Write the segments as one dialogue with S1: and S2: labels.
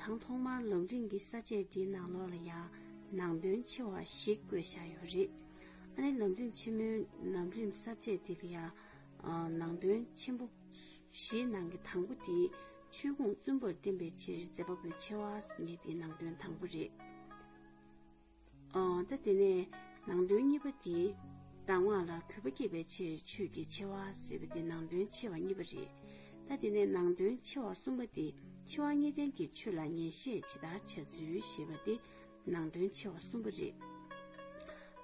S1: དང་ཐོག་མར་ལམ་རིམ་གྱི་ས་བཅད་འདིའི་ནང་ལོགས་ལ་ཡང་ནང་དོན་ཆེ་བ་ཞིག་བཀོད་བཞག་ཡོད་རེད། ཨ་ནེ་ལམ་རིམ་ཆེན་མོའི་ལམ་རིམ་ས་བཅད་འདི་ལ་ཡང་ནང་དོན་ཆེན་པོ་བཞིའི་ནང་གི་དང་པོ་དེ་ཆོས་ཁུངས་བཙུན་པར་བསྟན་པའི་ཕྱིར་མཛད་པ་པོའི་ཆེ་བ་ངེས་དེ་ནང་དོན་དང་པོ་རེད། ད་དེ་ནས་ནང་དོན་གཉིས་པ་དེ། གདམས་ངག་ལ་གུས་པ་བསྐྱེད་པའི་ཕྱིར་ཆོས་ཀྱི་ཆེ་བ་ཟེར་བ་དེ་ནང་དོན་ཆེ་བ་གཉིས་པ་རེད། ད་དེ་ནས་ནང་དོན་ཆེ་བ་གསུམ་པ་དེ་འཆི་བ་ངེས་བརྟན་གྱི་ཆོས་ལ་ངེས་ཤེས་ཇི་ལྟར་བྱ་ཚུལ་ཞེས་པ་དེ་ནང་དོན་ཆེ་བ་གསུམ་པ་རེད།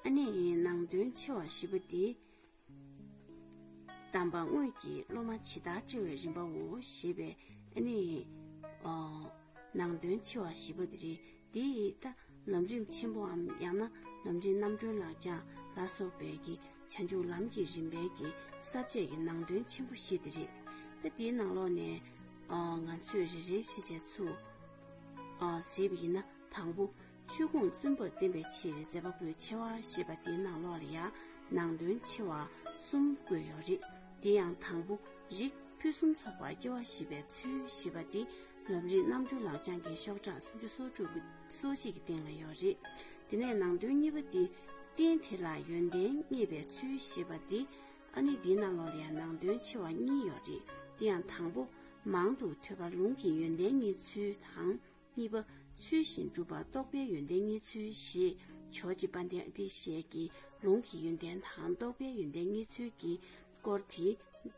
S1: ཨ་ནས་ནང་དོན་ཆེ་བ་བཞི་པ་དེ། གདམས་པ་དངོས་ཀྱི་སློབ་མ་ཇི་ལྟར་བཅོལ་བའི་རིམ་པའོ་ཞེས་པའི་ནི། ནང་དོན་ཆེ་བ་བཞི་པོ་འདི་རིགས་འདིས་ལྟ། ལམ་རིམ་ཆེན་པོའམ་ཡང་ན་ལམ་རིམ་རྣམ་གྲོལ་ལག་བཅངས་ལ་སོགས་པའི་ཀྱི་བྱང་ཆུབ་ལམ་གྱི་རིམ་པའི་ཀྱི་ས་བཅད་ཀྱི་ནང་དོན་ཆེན་པོ་བཞི་འདི་རིགས། ཏེ་འདིའི་ནང་ལོགས་ནས། ང་ཚོས་རེ་རེའི་ཤེས་བྱའི་ཚུལ། ཟེར་བ་ཡིན་ན་དང་པོ། ཆོས་ཁུངས་བཙུན་པར་བསྟན་པའི་ཕྱིར་མཛད་པ་པོའི་ཆེ་བ་ཞེས་པ་འདིའི་ནང་ལོགས་ལ་ཡང་ནང་དོན་ཆེ་བ་གསུམ་བཀོད་ཡོད་རེད། དེ་ཡང་དང་པོ་རིགས་ཕུན་སུམ་ཚོགས་པར་སྐྱེ་བ་བཞི་པའི་ཚུལ་ཞེས་པ་འདི་ལམ་རིམ་རྣམ་འབྱོར་ལག་བཅངས་ཀྱི་ཤོག་གྲངས་སུམ་ཅུ་སོ་དྲུག་གི་སོ་གཅིག་གི་སྟེང་ལ་ཡོད་རེད། དེ་ནས་ནང་དོན་གཉིས་པ་འདི་རྟེན་དེ་ལ་ཡོན་ཏན་བརྙེས་པའི་ཚུལ་ཞེས་པ་འདི་ཨ་ནི་འདིའི་ནང་ལོགས་ལ་ཡང་ནང་དོན་ཆེ་བ་གཉིས་ཡོད་རེད། དེ་ཡང་དང་པོ། མང་དུ་ཐོས་པ་ལུང་གི་ཡོན་ཏན་གཉིས་ཚུལ་དང། གཉིས་པ། ཚུལ་བཞིན་བསྒྲུབ་པར་རྟོགས་པའི་ཡོན་ཏན་གཉིས་ཚུལ་བཞི། ཇོ་སྤྱི་དཔལ་ལྡན་བཀྲིས་བཤེས་ཀྱིས་ལུང་གི་ཡོན་ཏན་དང་རྟོགས་པའི་ཡོན་ཏན་གཉིས་ཚུལ་གྱི་སྐོར་དེ།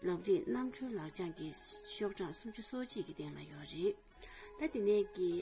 S1: ལབ་རིས་རྣམ་འཕྲུལ་ལག་བཅངས་ཀྱི་ཤོག་གྲངས་སུམ་ཅུ་སོ་གཅིག་གི་སྟེང་ལ་ཡོད་རེད། ད་དེ་ནས་ཀྱི།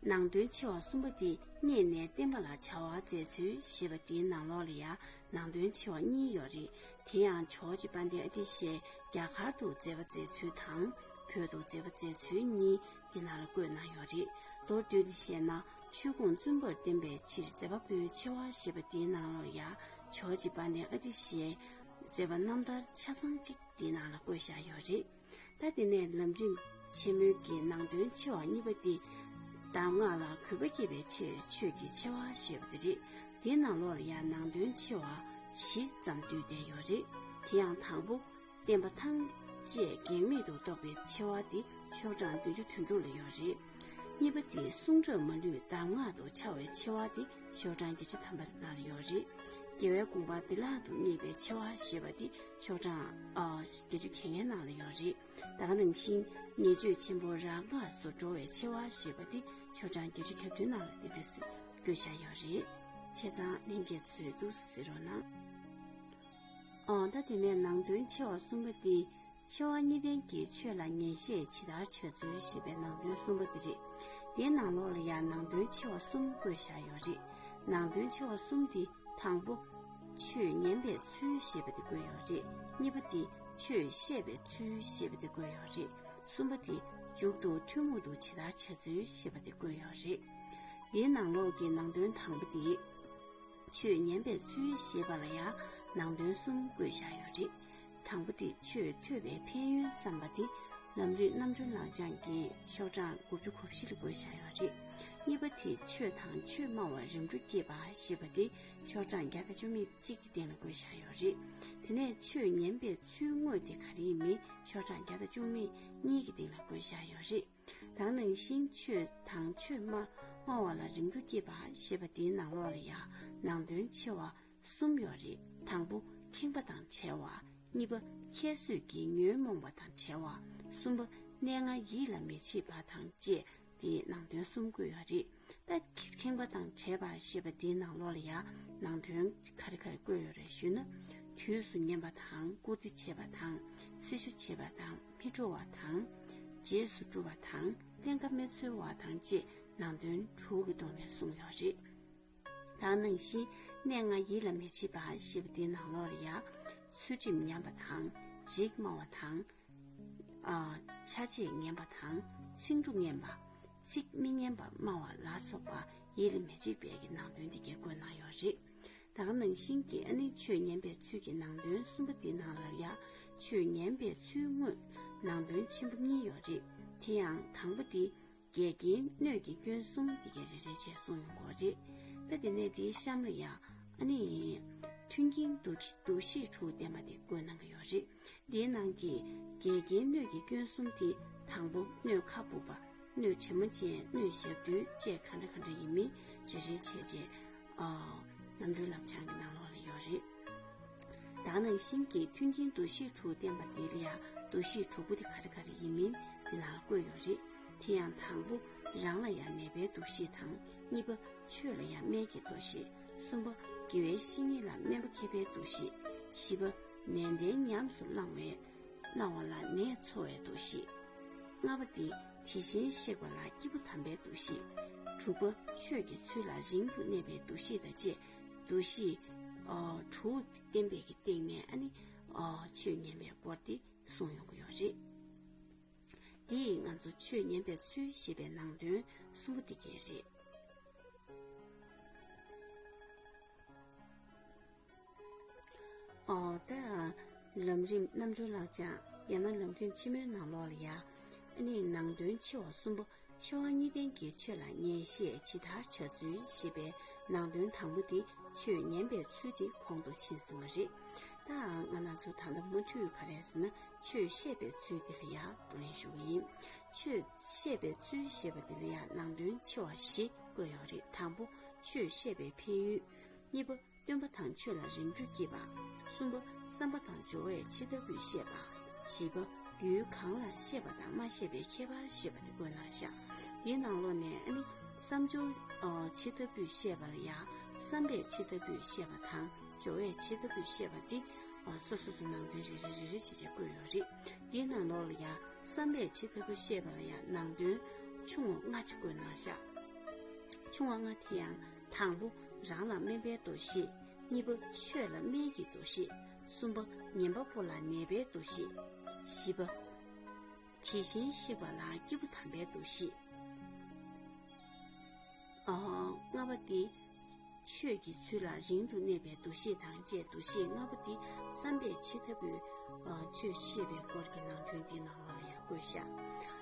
S1: ནང་དོན་ཆེ་བ་གསུམ་པོ་དེ་རྙེད་ནས་བསྟན་པ་ལ་བྱ་བ་མཛད་ཚུལ་ཞེས་པ་དེའི་ནང་ལོགས་ལ་ཡང་ནང་དོན་ཆེ་བ་གཉིས་ཡོད་རེད་དེ་ཡང་ཇོ་ཇེ་པཱ་འདེ་ཨ་ཏི་ཤའི་རྒྱ་གར་དུ་མཛད་པ་མཛད་ཚུལ་དང་བོད་དུ་མཛད་པ་མཛད་ཚུལ་གཉིས་འདི་ན་ལ་བཀོད་གནང་ཡོད་རེད་མདོར་བསྡུས་ནས་བཤད་ན་ཆོས་ཁུངས་བཙུན་པར་བསྟན་པའི་ཕྱིར་མཛད་པ་པོའི་ཆེ་བ་ཞེས་པ་འདིའི་ནང་ལོགས་ཡང་ཇོ་ཇེ་པཱ་འདེ་ཨ་ཏི་ཤའི་མཛད་པ་རྣམ་ཐར་ཆ་ཚང་གཅིག་འདི་ན་ལ་བཀོད་བཞག་ཡོད་རེད། ད་དེ་ནས་ལམ་རིམ་ཆེན་མོའི་གི་ནང་དོན་ཆེ་བ་གཉིས་པ་སྟེ། གདམས་ངག་ལ་གུས་པ་བསྐྱེད་པའི་ཕྱིར་ཆོས་ཀྱི་ཆེ་བ་ཞེས་པ་དེ་རེད། དེའི་ནང་ལོར་ཡང་ནང་དོན་ཆེ་བ་བཞི་ཙམ་བསྡུས་བསྡད་ཡོད་རེད། དེ་ཡང་དང་པོ། བསྟན་པ་ཐམས་ཅད་གེགས་མེད་དུ་རྟོགས་པའི་ཆེ་བ་འདི་ཆོག་གྲངས་བདུན་ཅུ་དོན་དྲུག་ལ་ཡོད་རེད། གཉིས་པ་དེ་གསུང་རབ་མ་ལུས་གདམས་ངག་ཏུ་འཆར་བའི་ཆེ་བ་འདི་ཤོག་གྲངས་བརྒྱད་ཅུ་ཐམ་པ་ལྔ་ལ་ཡོད་རེད། རྒྱལ་བའི་དགོངས་པ་བདེ་བླག་ཏུ་སྨྲས་པའི་ཆེ་བ་ཞེས་པ་འདི་ཤོག་གྲངས་བརྒྱད་ཅུ་གྱེས་ངན་ནང་ལ་ཡོད་རེད་ད་ག་ནང་བཞིན་ཉེས་སྤྱོད་ཆེན་པོ་རག་ལགས་སུ་འགྲོ་བའི་ཆེ་བ་ཞེས་པ་དེ་ཤོག་གྲངས་བརྒྱད་ཅུ་གྱ་བདུན་ནང་ལ་འདི་འདྲ་ཟེར་དགོས་ཤ་ཡོད་རེད་ཆེ་ཚང་གླིང་རྒྱལ་མཚོས་འདུག་ཟེར་རོ་ན། འོ་ད་དེ་ནས་ནང་དོན་ཆེ་བ་གསུམ་པ་འདི་ཆེ་བ་གཉིས་ལྡན་གྱི་ཆོས་ལ་ཉན་བཤད་ཇི་ལྟར་བྱེད་ཚུལ་ཞེས་པའི་ནང་དོན་གསུམ་པ་འདི་རེད་དེའི་ནང་ལོགས་ལ་ཡང་ནང་དོན་ཆེ་བ་གསུམ་བཀོད་བཞག་ཡོད་རེད་ནང་དོན་ཆེ་བ་གསུམ་འདི་དང་པོ། ཆོས་ཉན་པའི་ཚུལ་ཞེས་པ་དེ་དགོས་ཡོད་རེད་གཉིས་པ་དེ་ཆོས་བཤད་པའི་ཚུལ་ཞེས་པ་དེ་དགོས་ཡོད་རེད་གསུམ་པ་དེ་མཇུག་ཏུ་ཐུན་མོང་དུ་ཇི་ལྟར་བྱ་ཚུལ་ཞེས་པ་དེ་དགོས་ཡོད་རེད་འདིའི་ནང་ལོགས་ཀྱི་ནང་དོན་དང་པོ་དེ་ཆོས་ཉན་པའི་ཚུལ་ཞེས་པ་ལ་ཡང་ནང་དོན་གསུམ་དགོས་བཞག་ཡོད་རེད་དང་པོ་དེ་ཆོས་ཐོས་པའི་ཕན་ཡོན་བསམ་པ་དེ་ལམ་རིགས་རྣམ་གྲོལ་ལག་བཅངས་ཀྱི་ཤོག་གྲངས་དགུ་བཅུ་གོ་བཞི་ལ་དགོས་བཞག་ཡོད་རེད་གཉིས་པ་དེ་ཆོས་དང་ཆོས་སྨྲ་བ་རིམ་གྲོ་བསྐྱེད་པ་ཞེས་པ་དེ་ཆོག་གྲངས་བརྒྱ་དང་བཅུ་མེད་གཅིག་གི་སྟེང་ལ་བགོད་བཞག་ཡོད་རེད། དེ་ནས་ཆོས་ཉན་པའི་ཚུལ་དངོས་དེ་ག་རེ་ནི་ཆོག་གྲངས་བརྒྱ་དང་བཅུ་མེད་གཉིས་ཀྱི་སྟེང་ལ་བགོད་བཞག་ཡོད་རེད། དང་ནང་བཞིན་ཆོས་དང་ཆོས་སྨྲ་སྨྲ་བ་ལ་རིམ་གྲོ་བསྐྱེད་པ་ཞེས་པ་འདིའི་ནང་ལོགས་ལ་ཡང་ནང་དོན་ཆེ་བ་གསུམ་ཡོད་རེད་དང་པོ་ཁེངས་པ་དང་བྲལ་བ། གཉིས་པ་ཁྱད་གསོད་ཀྱིས་ཉོན་མོངས་པ་དང་བྲལ་བ། གསུམ་པ་གནས་ལྔ་ཡིད་ལ་མི་བྱེད་པ་དང་བཅས་དེ་ནང་དོན་གསུམ་དགོས་ཡོད་རེད་ད། ཁེངས་པ་དང་བྲལ་བ་ཞེས་པ་འདིའི་ནང་ལོགས་ལ་ཡང་ནང་དོན་ག་རེ་ག་རེ་བཀོད་ཡོད་རེད་ཞུས་ན། དུས་སུ་ཉན་པ་དང་བཀུར་སྟི་བྱེད་པ་དང་སྲི་ཞུ་བྱེད་པ་དང་མི་སྤྲོ་བ་དང། རྗེས་སུ་བཀྲུ་བ་དང་བརྟན་ཁ་མི་འཚོལ་བ་དང་བཅས་ནང་དོན་དྲུག་གི་ཐོག་ནས་གསུངས་ཡོད་རེད་ད། ནང་བཞིན་གནས་ལྔ་ཡིད་ལ་མི་བྱེད་པ་ཞེས་པ་འདིའི་ནང་ལོགས་ལ་ཡང། ཚུལ་ཁྲིམས་ཉམས་པ་དང་འཇིགས་སྨྲ་བ་དང། ཆ་བྱད་ངན་པ་དང་ཚིག་འབྲུ་ངན་པ། ཚིག་མི་སྙན་པ་སྨྲ་བ་ལ་སོགས་པ་ཡིད་ལ་མི་བྱེད་པའི་ཀྱི་ནང་དོན་འདི་དགེ་བསྐོས་གནང་ཡོད་རེད། ད་ག་ནང་བཞིན་གྱི་ཨ་ནི་ཆོས་ཉན་པའི་ཚུལ་གྱི་ནང་དོན་གསུམ་པ་འདི་ནང་ལར་ཡང་ཆོས་ཉན་པའི་ཚུལ་དངོས་ནང་དོན་ཆེན་པོ་གཉིས་ཡོད་རེད་དེ་ཡང་དང་པོ་འདི། འགལ་རྐྱེན་སྣོད་ཀྱི་སྐྱོན་གསུམ་འདི་གས་རེ་རེ་བྱས་གསུངས་ཡོང་གོ་རེད་ད་དེ་ནས་དེའི་གཤམ་ལ་ཡང་ཨ་ནི་མཐུན་རྐྱེན་འདུ་འདུ་ཤེས་དྲུག་བསྟན་པ་དེ་བཀོད་གནང་གི་ཡོད་རེད་འདིའི་ནང་གི་འགལ་རྐྱེན་སྣོད་ཀྱི་སྐྱོན་གསུམ་དེ་དང་པོ་སྣོད་ཁ་སྦུབ་པ་སྣོད་བྱེ་མ་ཅན་སྣོད་ཞབས་རྡུལ་བཅས་ག་འདྲ་ག་འདྲ་ཡིན་མིན་རེ་རེ་བྱས་རྗེས་རྣམ་གྲོལ་ལམ་བྱང་གི་ནང་ལོགས་ལ་ཡོད་རེད། བདག་ནང་བཞིན་གྱི་མཐུན་རྐྱེན་འདུ་ཤེས་དྲུག་བསྟན་པ་འདིར་ཡང་འདུ་ཤེས་དྲུག་པོ་དེ་ག་རེ་ག་རེ་ཡིན་མིན་འདི་ནང་བཀོད་ཡོད་རེད། དེ་ཡང་དང་པོ་རང་ལ་ཡང་ནད་པའི་འདུ་ཤེས་དང་གཉིས་པ་ཆོས་ལ་ཡང་སྨན་གྱི་འདུ་ཤེས་གསུམ་པ་དགེ་བའི་བཤེས་གཉེན་ལ་སྨན་པ་མཁས་པའི་འདུ་ཤེས་བཞི་པ་ནན་ཏན་ཉམས་སུ་བླང་བའི་བླང་བ་ལ་ནད་འཚོ་བའི་འདུ་ཤེས་ལྔ་པ་དེ་དེ་བཞིན་གཤེགས་པ་ལ་སྐྱིད་པོ་དམ་པའི་འདུ་ཤེས་དྲུག་པ་ཆོས་ཀྱི་ཚུལ་ལ་རིང་དུ་གནས་པའི་འདུ་ཤེས་དང་བཅས་འདུ་ཤེས་གྲུང་བསྟེན་པའི་གི་སྟེང་ནས་ཨ་ནི་ཆོས་ཉན་པའི་སྐོར་དེ་གསུང་ཡོང་གི་ཡོད་རེད། དེ་ཡིས་ང་ཚོ་ཆོས་ཉན་པའི་ཚུལ་ཞེས་པའི་ནང་དོན་གསུམ་པོ་དེ་གས་རེད། ད་ལམ་རིམ་རྣམ་གྲོལ་ལགས་ཅག་ཡང་ན་ལམ་རྒྱུན་ཆེན་མོའི་ནང་ལོགས་ལ་ཡང་ཨ་ནི་ནང་དོན་ཆེ་བ་གསུམ་པོ་ཕྱི་དབང་གཉིས་ལྡན་གྱི་ཆོས་ལ་ངེས་ཤེས་ཇི་ལྟར་བྱ་ཚུལ་ཞེས་པའི་ནང་དོན་དང་པོ་འདི་ཆོས་ཉན་པའི་ཚུལ་དེ་ཁོང་དུ་ཕྱིན་ཟིན་པ་རེད། ལྟའང་ང་ན་ཚོ་ད་ལྟ་མུ་མཐུད་ག་རེ་ཟེར་ན་ཆོས་བཤད་པའི་ཚུལ་འདི་ལ་ཡང་བགྲོ་གླེང་ཞུ་གི་ཡིན། ཆོས་བཤད་པའི་ཚུལ་ཞེས་པ་འདི་ལ་ཡང་ནང་དོན་ཆེ་བ་བཞི་བཀོད་ཡོད་རེད་དང་པོ་ཆོས་བཤད་པའི་འཕེལ་ཡུལ། གཉིས་པ། སྟོན་པ་དང་ཆོས་ལ་རིམ་གྲོ་བགྱིད་པ། གསུམ་པ། བསམ་པ་དང་སྦྱོར་བས་ཇི་ལྟ་བུས་ཤེས་པ། བཞི་པ། རྒྱུའི་གང་ལ་ཤེས་པ་དང་མ་ཤེས་པའི་ཁྱད་པར་ཤེས་པ་དེ་དགོས་ན་བཞག། དེའི་ནང་ལོགས་ནས་ནི། བསམ་སྦྱོར། ཇི་ལྟ་བུས་ཤེས་པ་ལ་ཡང། བསམ་པས་ཇི་ལྟ་བུས་ཤེས་པ་དང་སྦྱོར་བས་ཇི་ལྟ་བུས་ཤེས་པ་སྟེ། སོ་སོ་སོ་ནང་དོན་རེ་རེ་རེ་རེ་བྱེད་བྱེད་བཀོད་ཡོད་རེད། དེའི་ནང་ལོགས་ལ་ཡང། བསམ་པས་ཇི་ལྟ་བུ་ཤེས་པ་ལ་ཡང་ནང་དོན། ཆུང་བ་ལྔ་ཅིག་བཀོད་ན་བཞག། ཆུང་བ་ལྔ་དེ་ཡང། དང་པོ་རང་ལ་སྨན་པའི་འདུ་ཤེས། གཉིས་པ་ཆོས་ལ་སྨན་གྱི་འདུ་ཤེས། གསུམ་པ་ཉན་པ་པོ་ལ་ནད་པའི་འདུ་ཤེས། བཞི་པ། དེ་བཞིན་གཤེགས་པ་ལ་སྐྱེས་བུ་དམ་པའི་འདུ་ཤེས། ལྔ་པ་སྟེ། ཆོས་ཀྱི་ཚུལ་ལ་རིང་དུ་གནས་པའི་འདུ་ཤེས་དང་བཅས་འདུ་ཤེས་ལྔ་པོ་འདི་བསམ་པས་ཇི་ལྟ་བུའི་ཆོས་བཤད་པའི་སྐོར་གྱི་ནང་དོན་འདི་ནང་ལོགས་ལ་ཡང་བཀོད་བཞག་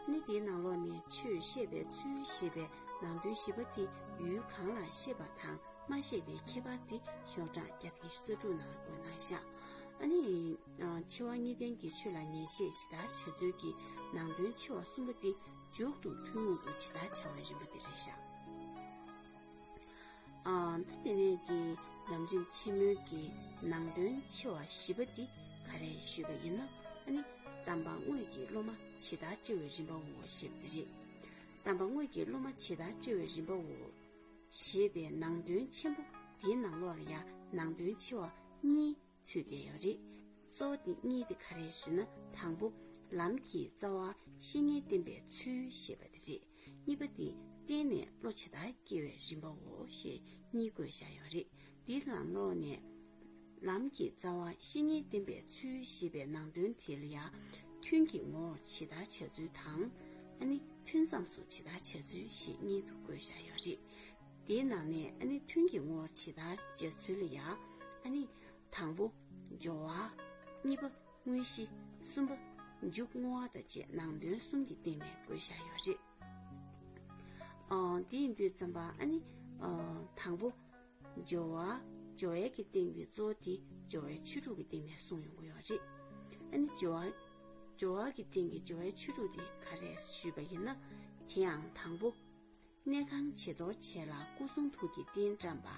S1: ནི། འདིའི་ནང་ལོགས་ནས་ཆོས་བཤད་པའི་ཚུལ་ཞེས་པའི་ནང་དོན་ཞིབ་པ་དེ་ཡུལ་གང་ལ་ཤེས་པ་དང་མ་ཤེས་པའི་ཁྱད་པར་དེ་ཤོག་གྲངས་བརྒྱ་དང་བཅུ་རྩ་དྲུག་ནང་འོད་སྣང་ཤར། ཨ་ནི། འཆི་བ་གཉིས་ལྡན་གྱི་ཆོས་ལ་ངེས་ཤེས་ཇི་ལྟར་བྱ་ཚུལ་གྱི་ནང་དོན་འཆི་བ་གསུམ་པོ་འདི་མཇུག་ཏུ་ཐུན་མོང་དུ་ཇི་ལྟར་བྱ་བའི་རིམ་པ་འདི་རེ་བཞག། ད་དེ་ནས་ཀྱི་ལམ་རིམ་ཆེན་མོའི་གི་ནང་དོན་འཆི་བ་བཞི་པ་འདི་ག་རེ་ཞུས་པ་ཡིན་ན་ཨ་ནི། གདམས་པ་དངོས་ཀྱི་སློབ་མ་ཇི་ལྟར་བྱ་བའི་རིམ་པའོ་ཞེས་པ་འདི་རེད། དམ་པ་དངོས་ཀྱི་སློབ་མ་ཇི་ལྟར་བཅོལ་བའི་རིམ་པའོ། ཞེས་པའི་ནང་དོན་ཆེན་པོ་འདིའི་ནང་ལོགས་ལ་ཡང་ནང་དོན་ཆེ་བ་གཉིས་ཚུད་བསྡད་ཡོད་རེད། གཙོ་བོ་འདི་གཉིས་དེ་ག་རེད་ཟེར་ན་དང་པོ། ལམ་གྱི་རྩ་བ་བཤེས་གཉེན་བསྟེན་པའི་ཚུལ་ཞེས་པ་འདི་རེད། གཉིས་པ་འདི་བསྟེན་ནས་བློ་ཇི་ལྟར་སྐྱེ་བའི་རིམ་པའོ་ཞེས་གཉིས་བཀོད་བཞག་ཡོད་རེད། འདི་གང་ནོག་ནས། ལམ་གྱི་རྩ་བ་བཤེས་གཉེན་བསྟེན་པའི་ཚུལ་ཞེས་པའི་ནང་དོན་དེ་ལ་ཡང། ཐུན་གྱི་ངོ་བོར་ཇི་ལྟར་བྱ་ཚུལ་དང། ཨ་ནི་ཐུན་མཚམས་སུ་ཇི་ལྟར་བྱ་ཚུལ་ཞེས་གཉིས་དུ་བགོས་བཞག་ཡོད་རེད། དེའི་ནང་ནས་ཨ་ནི་ཐུན་གྱི་ངོ་བོར་ཇི་ལྟར་བྱ་ཚུལ་ལ་ཡང། ཨ་ནི། དང་པོ། སྦྱོར་བ། གཉིས་པ། དངོས་གཞི། གསུམ་པ། མཇུག་བསྔོ་བ་དང་བཅས་ནང་དོན་གསུམ་གྱི་སྟེང་ནས་བགོས་བཞག་ཡོད་རེད། འདིའི་མདོའི་རྩམ་པ་ཨ་ནི། དང་པོ། སྦྱོར་བ། སྦྱོར་བའི་གི་སྟེང་གི་གཙོ་བོ་དེ་སྦྱོར་བའི་ཆོས་དྲུག་གི་སྟེང་ནས་གསུངས་ཡོང་གི་ཡོད་རེད། ཨ་ནི་སྦྱོར་བ། སྦྱོར་བ་གི་སྟེང་གི་སྦྱོར་བའི་ཆོས་དྲུག་དེ་ག་རེད་ཞུས་པ་ཡིན་ན། དེ་ཡང་དང་པོ། གནས་ཁང་བྱི་དོར་བྱས་ལ་སྐུ་གསུང་ཐུགས་ཀྱི་རྟེན་བཀྲམ་པ།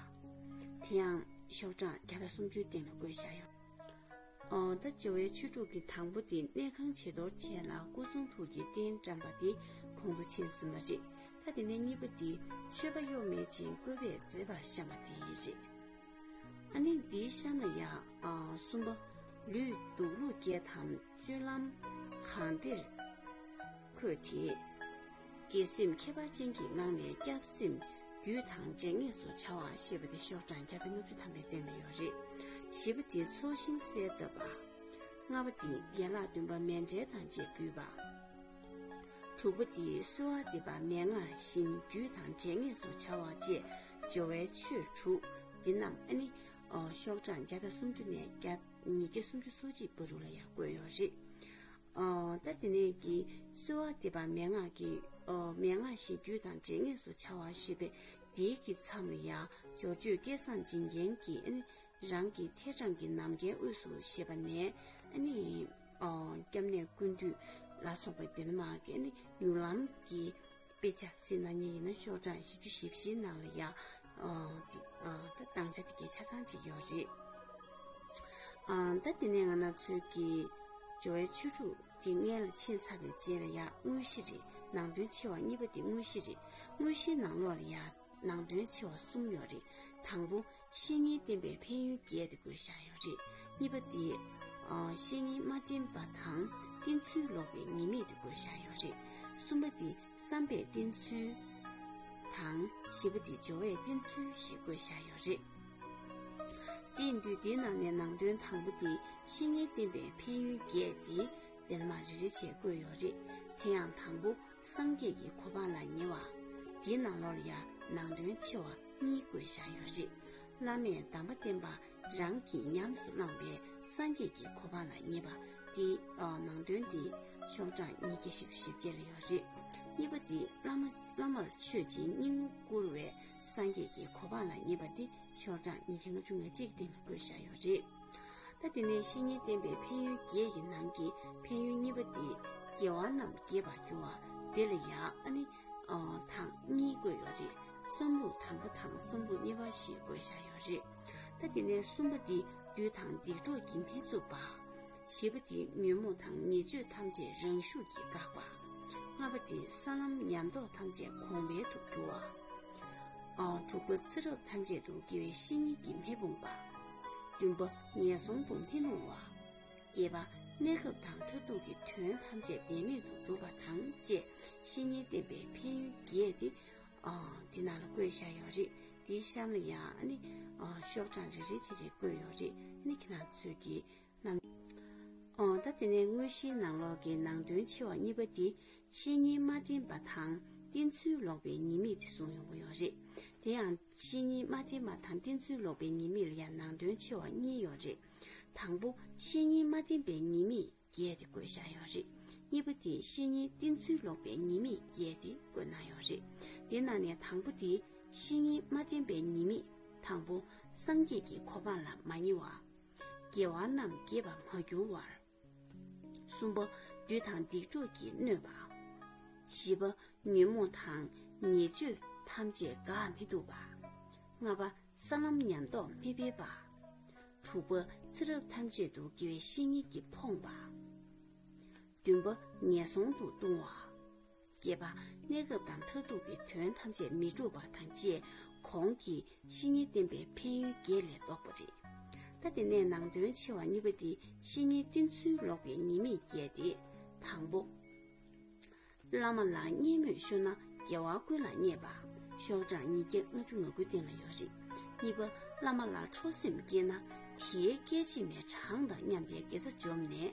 S1: དེ་ཡང་ཤོག་གྲངས་བརྒྱ་དང་སུམ་ཅུའི་སྟེང་ལ་བཀོད་བཞག་ཡོད། ད་སྤྱི་བོའི་ཆོས་དྲུག་གི་དང་པོ་དེ་གནས་ཁང་བྱི་དོར་བྱས་ལ་སྐུ་གསུང་ཐུགས་ཀྱི་རྟེན་བཀྲམ་པ་དེ་གོང་དུ་ཕྱིན་ཟིན་པ་རེད་ད་དེ་ནས་གཉིས་པ་འདི་མཆོད་པ་གཡོག་མེད་ཅིང་བཀོད་པས་མཛེས་པར་བཤམས་པ་དེ་རེད། ཨ་ནི་འདིའི་ཤ་ན་ཡང་གསུམ་པ། ལུས་འདུག་ལུས་སྐྱེས་དམ་ཆོས་ལམ་གང་བདེར། ཁོས་དེ་སྐྱེད་སེམས་ཁྱད་པར་ཅན་གྱི་ངང་ནས་སྐྱབས་སེམས་རྒྱུད་དང་རྗེས་ངེས་སུ་བྱ་བ་ཞེས་པ་དེ་ཤོག་གྲངས་བརྒྱ་དང་ལྔ་བཅུ་ཐམ་པའི་སྟེང་ན་ཡོད་རེད། བཞི་པ་དེ་ཚོགས་ཤིང་གསལ་བཏབ་པ། ལྔ་པ་དེ་ཡན་ལག་བདུན་པ་མལ་འབྲས་དང་བཅས་འབུལ་བ། དྲུག་པ་དེ་གསོལ་བ་འདེབས་པ་མན་ངག་བཞིན་རྒྱུད་དང་རྗེས་ངེས་སུ་བྱ་བ་བཅས་སྦྱོར་བའི་ཆོས་དྲུག་འདི་རྣམས་ཨ་ནི། ཤོག་གྲངས་བརྒྱ་དང་སུམ་ཅུ་ནས་བརྒྱ། ཉིས་བརྒྱ་སུམ་ཅུ་སོ་གཅིག་པ་རུ་ལ་ཡང་བཀོད་ཡོད་རེད། ད་དེ་ནས་ཀྱིས་གསོལ་བ་འདེབས་པ་མན་ངག་གི། མན་ངག་བཞི་རྒྱུད་དང་འབྲེལ་ངེས་སུ་བྱ་བ་ཞེས་པས་འདིའི་གི་མཚམས་ལ་ཡང་སྦྱོར་བརྗོད་སྐད་གསང་འབྱིན་རྒྱན་གྱི། རང་གི་ཐད་དྲངས་ཀྱི་ནམ་མཁའི་དབུས་སུ་ཞེས་པ་ནས། སྐྱབས་གནས་ཀུན་འདུས་ལ་སོགས་པའི་འདི་ལ་མ་གི། མྱུར་ལམ་གྱི། དཔེ་ཆ་སི་ན་ཉིད་ཡིན་ན་ཤོག་གྲངས་བཞི་བཅུ་བཞི་བཞིའི་ནང་ལ་ཡང་བཏང་ཆ་དེ་གའི་ཆ་ཚང་གཅིག་ཡོད་རེད། ཟླ་འདི་ནས་ང་ནག་ཚོས་ཀྱི་སྦྱོར་བའི་ཆོས་དྲུག་དེ་ལྔའི་ལ་ཕྱིན་ཚར་བའི་རྗེས་ལ་ཡང་དངོས་གཞི་རེ་ནང་དོན་ཆེ་བ་གཉིས་པ་དེ་དངོས་གཞི་རེ་དངོས་གཞིའི་ནང་ལོགས་ལ་ཡང་ནང་དོན་ཆེ་བ་གསུམ་ཡོད་རེད། དང་པོ། བཤེས་གཉེན་བསྟེན་པའི་ཕན་ཡོན་བརྒྱད་དེ་དགོས་བཞག་ཡོད་རེད། གཉིས་པ་དེ། བཤེས་གཉེན་མ་བསྟེན་པ་དང་བསྟེན་ཚུལ་ལོག་པའི་ཉེས་དམིགས་དེ་དགོས་བཞག་ཡོད་རེད། གསུམ་པ་དེ་བསམ་པས་བསྟེན་ཚུལ། དང་བཞི་པ་དེ་སྦྱོར་བས་བསྟེན་ཚུལ་ཞེས་དགོས་བཞག་ཡོད་རེད། དེ་འདུས་སྡེའི་ནང་ནས་ནང་དོན་དང་པོ་དེ་བཤེས་གཉེན་བསྟེན་པའི་ཕན་ཡོན་བརྒྱད་དེ་འདིར་མ་རེ་རེ་བྱས་བཀོད་ཡོད་རེད། དེ་ཡང་དང་པོ། སངས་རྒྱས་ཀྱི་གོ་འཕང་ལ་ཉེ་བ། འདི་ནང་ལོར་ཡང་ནང་དོན་ཆེ་བ་གཉིས་བཀོད་བཞག་ཡོད་རེད། བླ་མས་གདམས་པ་བསྟན་པ་རང་གིས་ཉམས་སུ་བླངས་པའི་སངས་རྒྱས་ཀྱི་གོ་འཕང་ལ་ཉེ་བ། འདི་ནང་དོན་འདི་ཤོག་གྲངས་ཉིས་བརྒྱ་ཞིབ་བཞི་བརྒྱ་ལ་ཡོད་རེད། གཉིས་པ་འདི་བླ་མར་མཆོད་ཅིང་སྙིང་བོ་བཀུར་བའི་སངས་རྒྱས་ཀྱི་གོ་འཕང་ལ་ཉེ་བ་འདི་ཤོག་གྲངས་ཉིས་བརྒྱ་ལྔ་བཅུ་ང་གཅིག་སྟེང་ལ་བཀོད་བཞག་ཡོད་རེད། ད་དེ་ནས་བཤེས་གཉེན་བསྟེན་པའི་ཕན་ཡོན་བརྒྱད་ཀྱི་ནང་གི་ཕན་ཡོན་གཉིས་པ་སྟེ་དགེ་བ་རྣམས་རྒྱས་པར་འགྱུར་བ་དེ་ལ་ཡང་ཨ་ནི་དང་གཉིས་དགོས་ཡོད་རེད་བསམ་ལུགས་དང་པོ་དང་གསུམ་པོ་གཉིས་པ་ཞིག་དགོས་བཞག་ཡོད་རེད་ད་དེ་ནས་གསུམ་པ་འདི་བདུད་དང་སྡིག་གྲོགས་ཀྱིས་མི་རྩུབ་པ། བཞི་པ་འདི་ཉོན་མོངས་དང་ཉེས་སྤྱོད་ཐམས་ཅད་རང་ཤུགས་ཀྱིས་འགག་པ། ལྔ་པ་འདི་ས་ལམ་ཉམས་རྟོགས་ཐམས་ཅད་གོང་འཕེལ་དུ་འགྱུར་བ། དྲུག་པ་ཚེ་རབས་ཐམས་ཅད་དུ་དགེ་བའི་བཤེས་གཉེན་གྱིས་མི་སྤོང་པ། བདུན་པ་ངན་སོང་དུ་མི་ལྷུང་བ། བརྒྱད་པ་གནས་སྐབས་དང་མཐར་ཐུག་གི་དོན་ཐམས་ཅད་བདེན་མེད་དུ་འགྲུབ་པ་དང་བཅས་བཤེས་གཉེན་བསྟེན་པའི་ཕན་ཡོན་རྒྱས་ཏེ། འདི་ནང་ལ་བཀོད་བཞག་ཡོད་རེད་འདིའི་གཤམ་ལ་ཡང་ནི་ཤོག་གྲངས་རེ་རེ་བྱས་བྱས་བཀོད་ཡོད་རེད་ནི་ཁྱེད་རང་ཚོས་ཀྱིས་རྣམས། ད་དེ་ནས་དངོས་གཞིའི་ནང་ལོགས་ཀྱི་ནང་དོན་ཆེ་བ་གཉིས་པ་འདི་བཤེས་གཉེན་མ་བསྟེན་པ་དང་བསྟེན་ཚུལ་ལོག་པའི་ཉེས་དམིགས་དེ་གསུངས་ཡོང་གི་ཡོད་རེད། དེ་ཡང། བཤེས་གཉེན་མ་བསྟེན་པ་དང་བསྟེན་ཚུལ་ལོག་པའི་ཉེས་དམིགས་ལ་ཡང་ནང་དོན་ཆེ་བ་གཉིས་ཡོད་རེད། དང་པོ། བཤེས་གཉེན་མ་བསྟེན་པའི་ཉེས་དམིགས་བརྒྱད་དེ་བཀོད་བཞག་ཡོད་རེད། གཉིས་པ་དེ་བཤེས་གཉེན་བསྟེན་ཚུལ་ལོག་པའི་ཉེས་དམིགས་བརྒྱད་དེ་བཀོད་གནང་ཡོད་རེད། དེ་ནང་ནས་དང་པོ་དེ། བཤེས་གཉེན་མ་བསྟེན་པའི་ཉེས་དམིགས། དང་པོ། སངས་རྒྱས་ཀྱི་གོ་འཕང་ལ་མ་ཉེ་བ། དགེ་བ་རྣམས་བགྱིས་པ་མ་བསྐྱུར་བར། གསུམ་པ། བདུད་དང་སྡིག་སྒྲུབ་ཀྱིས་གནོད་པ། བཞི་པ། ཉོན་མོངས་དང་ཉེས་སྤྱོད་ཐམས་ཅད་དགག་མི་བཏུབ་པ། ལྔ་པ། ས་ལམ་ཉམས་རྟོགས་མི་འཕེལ་པ། དྲུག་པ། ཚེ་རབས་ཐམས་ཅད་དུ་དགེ་བའི་བཤེས་གཉེན་གྱིས་ཕོངས་པ། བདུན་པ། ངན་སོང་དུ་ལྟུང་བ། བརྒྱད་པ། གནས་སྐབས་དང་མཐར་ཐུག་གི་དོན་ཐམས་ཅད་མི་འགྲུབ་པ་དང་བཅས་གོང་གི་བཤེས་གཉེན་བསྟེན་པའི་ཕན་ཡོན་བརྒྱད་ལས་བཟློག་པ་རེད། ད་དེ་ནས་ནང་དོན་ཆེ་བ་གཉིས་པ་འདི་བཤེས་གཉེན་བསྟེན་ཚུལ་ལོག་པའི་ཉེས་དམིགས་བརྒྱད་དེ། དང་པོ། བླ་མ་ལ་བརྙས་སྨོད་ཤོར་ན་རྒྱལ་བ་ཀུན་ལ་བརྙས་པ། ཤོག་གྲངས་ཉིས་བརྒྱ་ལྔ་བཅུ་ང་དགུ་སྟེང་ལ་ཡོད་རེད། གཉིས་པ། བླ་མ་ལ་ཁྲོ་སེམས་སྐྱེས་ན། དེའི་སྐད་ཅིག་མའི་གྲངས་དང་མཉམ་པའི་དགེ་རྩ་འཇོམས་ནས།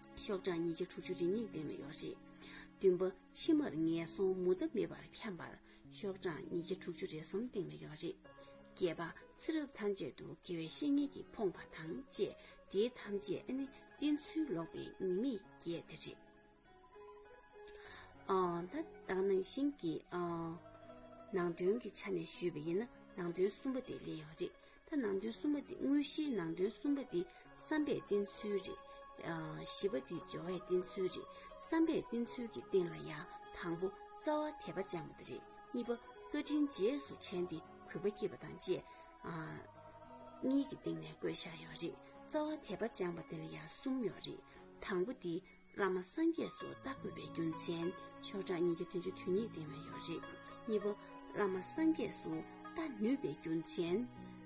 S1: ཤོག་གྲངས་ཉིས་བརྒྱ་དྲུག་ཅུ་རེ་གཉིས་བཏོན་ནས་ཡོད་རེད། བདུན་པ། ཕྱི་མར་ངན་སོང་མུ་མཐའ་མེད་པར་འཁྱམས་པར་ཤོག་གྲངས་ཉིས་བརྒྱ་དྲུག་ཅུ་རེ་གསུམ་བཏིང་ནས་ཡོད་རེད། བརྒྱད་པ། ཚེ་རབས་ཐམས་ཅད་དུ་དགེ་བའི་བཤེས་གཉེན་གྱིས་ཕོངས་པ་དང་བཅས་དེའི་ཐམས་ཅད་ནི་བསྟེན་ཚུལ་ལོག་པའི་ཉེས་དམིགས་བརྒྱད་དེ་རེད། ད་ལྟ་ནང་བཞིན་གྱི་ནང་དོན་གྱི་ཆ་ནས་ཞུས་པ་ཡིན་ན་ནང་དོན་གསུམ་པ་དེ་ལེགས་ཡོད་རེད། ཐ་ནང་དོན་གསུམ་པ་འདི་དངོས་གཞིའི་ནང་དོན་གསུམ་པ་འདི་བསམ་པའི་བསྟེན་ཚུལ་རེད། བཞི་པ་འདི་སྦྱོར་བའི་བསྟེན་ཚུལ་རེད། བསམ་པའི་བསྟེན་ཚུལ་གྱི་སྟེང་ལ་ཡང་དང་པོ་རྩ་བ་དད་པ་སྦྱངས་པ་འདི་རེད། གཉིས་པ་བཀའ་དྲིན་རྗེས་སུ་དྲན་ཏེ་གུས་པ་བསྐྱེད་པ་དང་བཅས། གཉིས་ཀྱི་སྟེང་ནས་བཀོད་བཞག་ཡོད་རེད། རྩ་བ་དད་པ་སྦྱངས་པ་འདི་ལ་ཡང་གསུམ་ཡོད་རེད། དང་པོ་འདི་བླ་མ་སངས་རྒྱས་སུ་བལྟ་དགོས་པའི་རྒྱུ་མཚན་ཆོས་གྲངས་ཉིས་བརྒྱ་བདུན་ཅུ་དོན་གཉིས་སྟེང་ན་ཡོད་རེད། གཉིས་པ། བླ་མ་སངས་རྒྱས་སུ་བལྟ་ནུས་པའི་རྒྱུ་མཚན།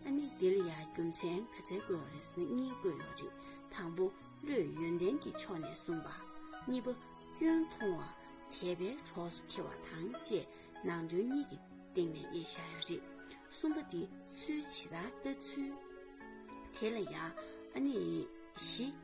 S1: ཨ་ནི་འདི་ལ་ཡང་རྒྱུ་མཚན་ག་ཚད་བཀོད་བ་རེད་ཟེར་ན་གཉིས་བཀོད་ཡོད་རེད། དང་པོ། བློའི་ཡོན་ཏན་གྱི་ཕྱོགས་ནས་གསུངས་པ། གཉིས་པ། སྐྱོན་མཐོང་བ། དད་པའི་གྲོགས་སུ་འཁྱེར་བ་དང་བཅས་ནང་དོན་གཉིས་ཀྱི་སྟེང་ནས་དབྱེ་བཞག་ཡོད་རེད། གསུམ་པ། འདི་ཚུལ་ཇི་ལྟར་ལྟ་ཚུལ། དེ་ལ་ཡང། ཨ་ནི། བཞི།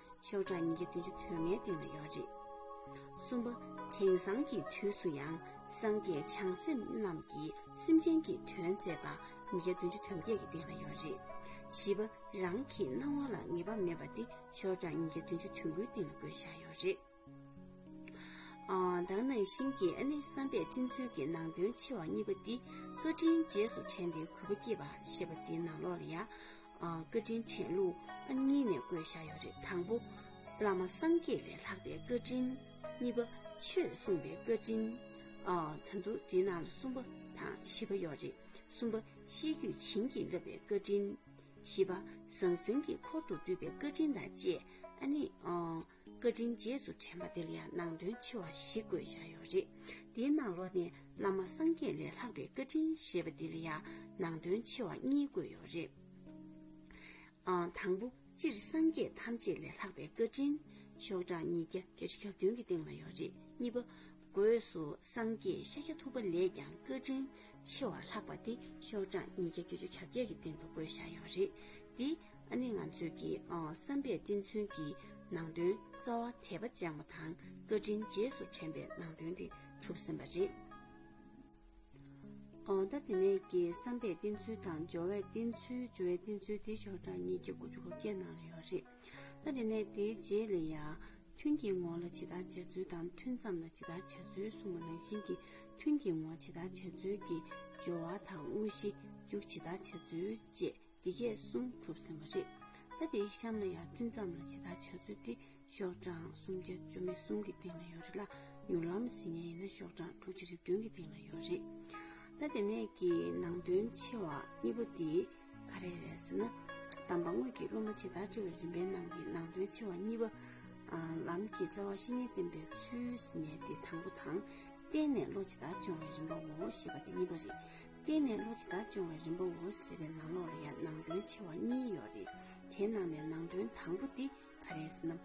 S1: ཤོག་གྲངས་ཉིས་བརྒྱ་བདུན་ཅུ་དོན་ལྔའི་སྟེང་ན་ཡོད་རེད། གསུམ་པ། དེང་སང་གི་དུས་སུ་ཡང་སངས་རྒྱས་བྱང་སེམས་རྣམས་ཀྱིས་སེམས་ཅན་གྱི་དོན་མཛད་པ་ཉིས་བརྒྱ་བདུན་ཅུ་དོན་བརྒྱད་ཀྱི་སྟེང་ན་ཡོད་རེད། བཞི་པ། རང་གི་སྣང་བ་ལ་ངེས་པ་མེད་པ་འདི་ཤོག་གྲངས་ཉིས་བརྒྱ་བདུན་ཅུ་དོན་དགུའི་སྟེང་ན་དགོད་བཞག་ཡོད་རེད། བདག་ནང་བཞིན་གྱི་ཨ་ནེ་བསམ་པས་བསྟིམ་ཚུལ་གྱི་ནང་དོན་ཆེ་བ་གཉིས་པ་འདི་བཀའ་དྲིན་རྗེས་སུ་དྲན་པའི་གུས་པ་སྐྱེས་པ་ཞེས་པ་འདི་ནང་ལོགས་ལ་ཡང་བཀའ་དྲིན་དྲན་ལུགས་ཨ་གཉིས་ནས་བཀོད་བཞག་ཡོད་རེད་དང་པོ་བླ་མ་སངས་རྒྱས་ལས་ལྷག་པའི་བཀའ་དྲིན་གཉིས་པ་ཆོས་གསུངས་པའི་བཀའ་དྲིན་དང་དུ་འདི་ནང་ལ་གསུམ་པ་དང་བཞི་པ་ཡོད་རེད་གསུམ་པ་ཤེས་རྒྱུད་བྱིན་གྱིས་བརླབས་པའི་བཀའ་དྲིན་བཞི་པ་ཟང་ཟིང་གི་འཁོར་དུ་འདུས་པའི་བཀའ་དྲིན་དང་བཅས་ཨ་ནེ་བཀའ་དྲིན་རྗེས་སུ་དྲན་པ་འདིར་ཡང་ནང་དོན་ཆེ་བ་ཞིག་བཀོད་བཞག་ཡོད་རེད། འདིའི་ནང་ལོགས་ནས་བླ་མ་སངས་རྒྱས་ལས་ལྷག་པའི་བཀའ་དྲིན་ཞེས་པ་འདིར་ཡང་ནང་དོན་ཆེ་བ་གཉིས་བཀོད་ཡོད་རེད། དང་པོ། སྤྱིར་སངས་རྒྱས་ཐམས་ཅད་ལས་ལྷག་པའི་བཀའ་དྲིན། ཤོག་གྲངས་ཉིས་བརྒྱ་བརྒྱད་ཅུ་གྱ་བདུན་གྱི་སྟེང་ལ་ཡོད་རེད། གཉིས་པ། སྒོས་སུ་སངས་རྒྱས་ཤཱཀྱ་ཐུབ་པ་ལས་ཀྱང་བཀའ་དྲིན་ཆེ་བར་ལྷག་པ་དེ་ཤོག་གྲངས་ཉིས་བརྒྱ་བརྒྱད་ཅུ་གྱ་བརྒྱད་ཀྱི་སྟེང་དུ་བཀོད་བཞག་ཡོད་རེད་དེ། ཨ་ནི་ང་ཚོས་ཀྱི་བསམ་པའི་བསྟན་མཚོན་གྱི་ནང་དོན་རྩ་བ་དད་པ་སྦྱངས་པ་དང་བཀའ་དྲིན་རྗེས་སུ་དྲན་པའི་ནང་དོན་དེ་གྲུབ་ཟིན་པ་རེད། ད་དེ་ནས་ཀྱི་བསམ་པའི་བསྟན་ཚུལ་དང་སྦྱོར་བའི་བསྟན་ཚུལ་སྦྱོར་བའི་བསྟན་ཚུལ་དེ་ཞོར་དྲ་གཉིས་ཀྱི་དགུ་བཅུ་དགུ་བརྒྱའི་ནང་ལ་ཡོད་རེད། ད་དེ་ནས་དེའི་རྗེས་ལས་ཡར་ཐོན་གྱི་ངོ་ལ་ཇི་ལྟར་བྱ་ཚུལ་དང་ཐུན་མཚམས་ལ་ཇི་ལྟར་བྱ་ཚུལ་གསུངས་པ་རང་བཞིན་གྱི་ཐུན་གྱི་ངོ་ཇི་ལྟར་བྱ་ཚུལ་གྱི་སྦྱོར་བ་དང་དངོས་གཞི་འཇུག་ཇི་ལྟར་བྱ་ཚུལ་བཅས། འདི་སྐད་གསུངས་གྲུབ་ཟིན་པ་རེད། ད་དེ་གཤམ་ལ་ཡང་ཐུན་མཚམས་ལ་ཇི་ལྟར་བྱ་ཚུལ་དེ་ཤོག་གྲངས་སུམ་བརྒྱ་བཅོ་ལྔའི་གསུང་གི་སྟེང་ན་ཡོད་རེད་ལ་མྱུར་ལམ་ཟིན་ཉིན་ཡིན་ན་ཤོག་གྲངས་དྲུག་ཅུ་རེ་བདུན་གྱི་སྟེང་ན་ཡོད་རེད། ད་དེ་ནས་ཀྱི་ནང་དོན་ཆེ་བ་གཉིས་པོ་དེ་ག་རེ་རེད་ཟེར་ན། དམ་པ་དངོས་ཀྱིས་སློབ་མ་ཇི་ལྟར་འཁྲིད་པའི་རིམ་པའི་ནང་གི་ནང་དོན་ཆེ་བ་གཉིས་པ། ལམ་གྱི་རྩ་བ་བཤེས་གཉེན་བསྟེན་པའི་ཚུལ་ཟིན་ནས་དེ་དང་པོ་དང། བསྟེན་ནས་བློ་ཇི་ལྟར་སྦྱོང་བའི་རིམ་པའོ་ཞེས་པ་དེ་གཉིས་པ་རེད། བརྟེན་ནས་བློ་ཇི་ལྟར་སྦྱོང་བའི་རིམ་པའོ་ཟེར་བའི་ནང་ལོགས་ལ་ཡང་ནང་དོན་ཆེ་བ་གཉིས་ཡོད་རེད། དེའི་ནང་ནས་ནང་དོན་དང་པོ་འདི་ག་རེད་ཟེར་ན།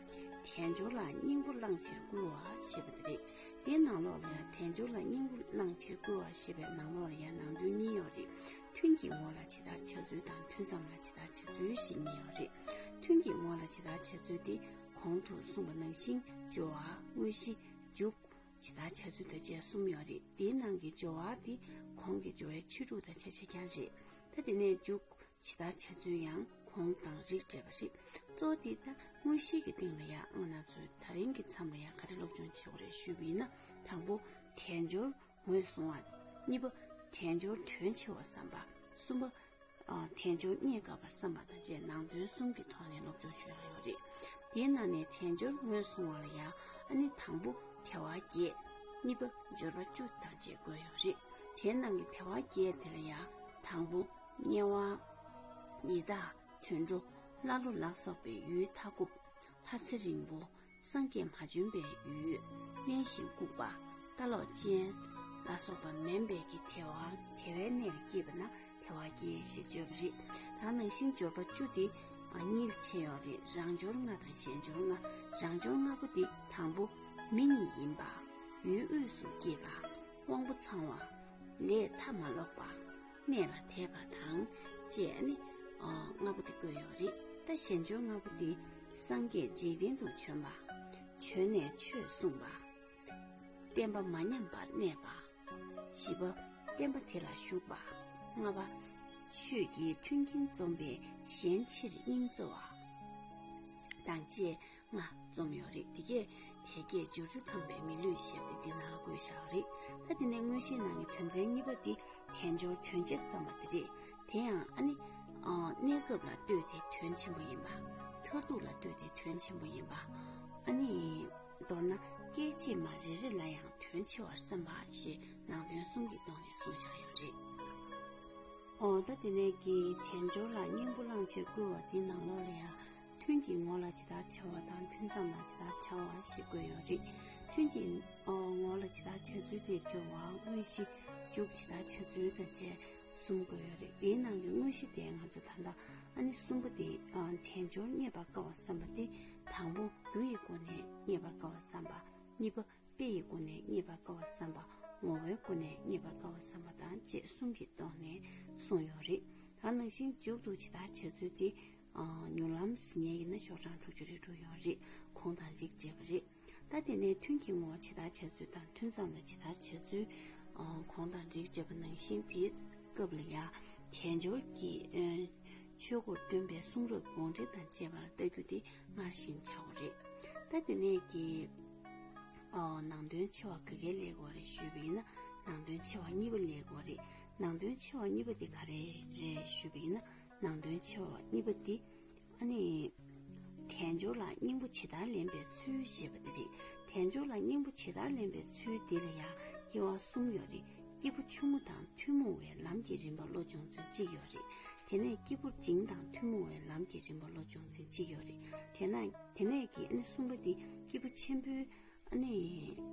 S1: དལ་འབྱོར་ལ་སྙིང་པོ་བླངས་ཕྱིར་བསྐུལ་བ་ཞེས་པ་འདི་རེད། དེའི་ནང་ལོགས་ལ་ཡང་དལ་འབྱོར་ལ་སྙིང་པོ་བླངས་ཕྱིར་བསྐུལ་བ་ཞེས་པའི་ནང་ལོགས་ལ་ཡང་ནང་དོན་གཉིས་ཡོད་རེད། ཐུན་གྱི་ངོ་ལ་ཇི་ལྟར་བྱ་ཚུལ་དང་ཐུན་མཚམས་ལ་ཇི་ལྟར་བྱ་ཚུལ་ཞེས་གཉིས་ཡོད་རེད། ཐུན་གྱི་ངོ་ལ་ཇི་ལྟར་བྱ་ཚུལ་འདི་གོང་དུ་གསུངས་པ་ནང་བཞིན་སྦྱོར་བ་དངོས་གཞི་འཇུག། ཇི་ལྟར་བྱ་ཚུལ་དང་བཅས་གསུམ་ཡོད་རེད་དེའི་ནང་གི་སྦྱོར་བ་དེ་གོང་གི་སྦྱོར་བའི་ཕྱི་དྲུག་དང་ཕྱི་བྱེད་རྐྱང་རེད་ད་དེ་ནས་འཇུག་ཇི་ལྟར་བྱ་ཚུལ་ཡང་གོང་དང་རིགས་འདྲེས་པ་རེད་གཙོ་བོ་དེ་ད་དངོས་གཞིའི་གི་སྟེང་ལ་ཡང་སྔོན་ང་ཚོས་ད་རིང་གི་མཚམས་ལ་ཡང་ག་རེ་སློབ་སྦྱོང་བྱེད་དགོས་རེད་ཞུས་པ་ཡིན་ན་དང་པོ་དལ་འབྱོར་ངོས་བཟུང་བ། གཉིས་པ་དལ་འབྱོར་དོན་ཆེ་བ་བསམ་པ། གསུམ་པ། དལ་འབྱོར་རྙེད་དཀའ་བར་བསམ་པ་དང་བཅས་ནང་དོན་གསུམ་གྱི་ཐོག་ནས་སློབ་སྦྱོང་བྱོས་ཡོད་རེད། དེའི་ནང་ནས་དལ་འབྱོར་ངོས་བཟུང་བ་ལ་ཡང་ཨ་ནི་དང་པོ་དལ་བ་བརྒྱད། གཉིས་པ་འབྱོར་པ་བཅུ་དང་བཅས་བཀོད་ཡོད་རེད། དེའི་ནང་གི་དལ་བ་བརྒྱད་དེ་ལ་ཡང་དང་པོ། དམྱལ་བ། ཡི་དྭགས། དུད་འགྲོ། ཀླ་ཀློ་ལ་སོགས་པའི་ཡུལ་མཐའ་འཁོབ། ལྷ་ཚེ་རིང་པོ། སངས་རྒྱས་མ་བྱོན་པའི་ཡུལ། གནས་ཤིང་བཀུག་པ། ལྟ་ལོག་ཅན། ལ་སོགས་པ་མེན་བལ་གྱི་དེ་བ་དེ་བའི་གནས་ལ་སྐྱེས་པ་ན་དེ་བ་སྐྱེ་ཞེས་བརྗོད་པ་རེད། ད་ནང་བཞིན་སྦྱོར་པ་བཅུ་འདི་གཉིས་ལ་ཕྱེ་ཡོང་རེ་རང་སྦྱོར་ལྔ་དང་གཞན་སྦྱོར་ལྔ་རང་སྦྱོར་ལྔ་པོ་འདི་དང་པོ། མི་གཉིས་ཡིན་པ། ཡུལ་དབུས་སུ་སྐྱེས་པ། དབང་པོ་ཚང་བ། ལས་མཐའ་མ་ལོག་པ། གནས་ལ་དད་པ་དང་བཅས་ནི་ལྔ་པོ་དེ་བཀོད་ཡོད་རེད་ད་གཞན་འབྱོར་ལྔ་པོ་དེ་སངས་རྒྱས་འཇིག་རྟེན་དུ་བྱོན་པ་བྱོན་ནས་ཆོས་གསུངས་པ་བསྟན་པ་མ་ཉམས་པར་གནས་པ་བཞི་པ་བསྟན་པ་དེ་ལ་ཞུགས་པ་ལྔ་པ་ཆོས་ཀྱི་མཐུན་རྐྱེན་འཛོམས་པའི་གཞན་ཕྱིར་སྙིང་བརྩེ་བ་དང་བཅས་ལྔ། རྩོམ་ཡོད་རིགས་འདི་གས་དལ་བརྒྱད་འབྱོར་བཅུ་ཚང་བའི་མི་ལུས་ཞེས་པ་འདི་ལ་དགོད་བཞག་གི་རེད་ད། དེ་ནས་དངོས་གཞིའི་ནང་གི་དོན་ཚན་གཉིས་པ་འདི་དལ་འབྱོར་དོན་ཆེར་བསམ་པ་འདི་རེད། དེ་ཡང་ཨ་ནི། གནས་སྐབས་ལ་ལྟོས་ཏེ་དོན་ཆེན་པོ་ཡིན་པ། མཐར་ཐུག་ལ་ལྟོས་ཏེ་དོན་ཆེན་པོ་ཡིན་པ། ཨ་ནི། མདོར་ན་སྐད་ཅིག་མ་རེ་རེ་ལ་ཡང་དོན་ཆེ་བར་བསམ་པ་ཞེས་ནང་དོན་གསུམ་གྱི་ཐོག་ནས་གསུངས་བཞག་ཡོད་རེད། ད་དེ་ནས་ཀྱི་དལ་འབྱོར་ལ་སྙིང་པོ་བླངས་ཕྱིར་བསྐུལ་བ་འདི་ནང་ལོགས་ལ་ཡང་ཐུན་གྱི་ངོ་ལ་ཇི་ལྟར་བྱ་བ་དང་ཐུན་མཚམས་ལ་ཇི་ལྟར་བྱ་བ་ཞེས་བཀོད་ཡོད་རེད། ཐུན་གྱི་ངོ་ལ་ཇི་ལྟར་བྱ་ཚུལ་དེ་སྦྱོར་བ་དངོས་གཞི་འཇུག་ཇི་ལྟར་བྱ་ཚུལ་དང་བཅས་གསུམ་བཀོད་ཡོད་རེད། དེའི་ནང་གི་དངོས་གཞི་དེ་ང་ཚོས་ད་ལྟ་ཨ་ནི་གསུམ་པོ་དེ་དལ་འབྱོར་རྙེད་པར་དཀའ་བར་བསམ་པ་སྟེ་དང་པོ་རྒྱུ་ཡི་སྒོ་ནས་རྙེད་པར་དཀའ་བར་བསམ་པ། གཉིས་པ་དཔེ་ཡི་སྒོ་ནས་རྙེད་པར་དཀའ་བར་བསམ་པ། ངོ་བོའི་སྒོ་ནས་རྙེད་པར་དཀའ་བར་བསམ་པ་དང་བཅས་གསུམ་གྱི་སྟོང་ནས་གསུངས་ཡོད་རེད། ད་ནང་བཞིན་འཇུག་ཏུ་ཇི་ལྟར་བྱ་ཚུལ་དེ་མྱུར་ལམ་ཟིན་ངེས་ཡིན་ན་ཤོག་གྲངས་དྲུག་ཅུ་རེ་དྲུག་ཡོད་རེད་གོང་དང་རིགས་བཅས་པ་རེད་ད། དེ་ནས་ཐུན་གྱི་ངོ་བོ་ཇི་ལྟར་བྱས་ཚུལ་དང་ཐུན་ཙམ་ལ་ཇི་ལྟར་བྱས་ཚུལ། གོང་དང་རིགས་བཅས་པ་ནང་བཞིན་དེའི་སྐབས་ལ་ཡང་དལ་འབྱོར་གྱི། ཆོས་སྒོར་སྟོན་པའི་གསུང་རབ་དགོངས་འགྲེལ་དང་བཅས་པ་ལ་བལྟ་རྒྱུ་དེ་སྔར་བཞིན་བྱའོ། རེད་ད། དེ་ནས་ཀྱི། ནང་དོན་ཆེ་བ་ག་གེ་ལེགས་བ་རེད་ཞུས་པ་ཡིན་ན་ནང་དོན་ཆེ་བ་གཉིས་པ་ལེགས་བ་རེད། ནང་དོན་ཆེ་བ་གཉིས་པ་དེ་ག་རེ་རེད་ཞུས་པ་ཡིན་ན་ནང་དོན་ཆེ་བ་གཉིས་པ་འདི་ཨ་ནི། དལ་འབྱོར་ལ་སྙིང་པོ་ཇི་ལྟར་ལེན་པའི་ཚུལ་ཞེས་པ་འདི་རེད། དལ་འབྱོར་ལ་སྙིང་པོ་ཇི་ལྟར་ལེན་པའི་ཚུལ་འདི་ལ་ཡང་དབྱེ་བ་གསུམ་ཡོད་རེད། སྐྱེས་བུ་ཆུང་ངུ་དང་ཐུན་མོང་བའི་ལམ་གྱི་རིམ་པ་བློ་སྦྱོང་ཚུལ་གཅིག་ཡོད་རེད། དེ་ནས་སྐྱེས་བུ་འབྲིང་དང་ཐུན་མོང་བའི་ལམ་གྱི་རིམ་པ་བློ་སྦྱོང་ཚུལ་གཅིག་ཡོད་རེད། དེ་ནས་ཀྱི་ཨ་ནི་གསུམ་པ་འདི་སྐྱེས་བུ་ཆེན་པོའི། ཨ་ནེ་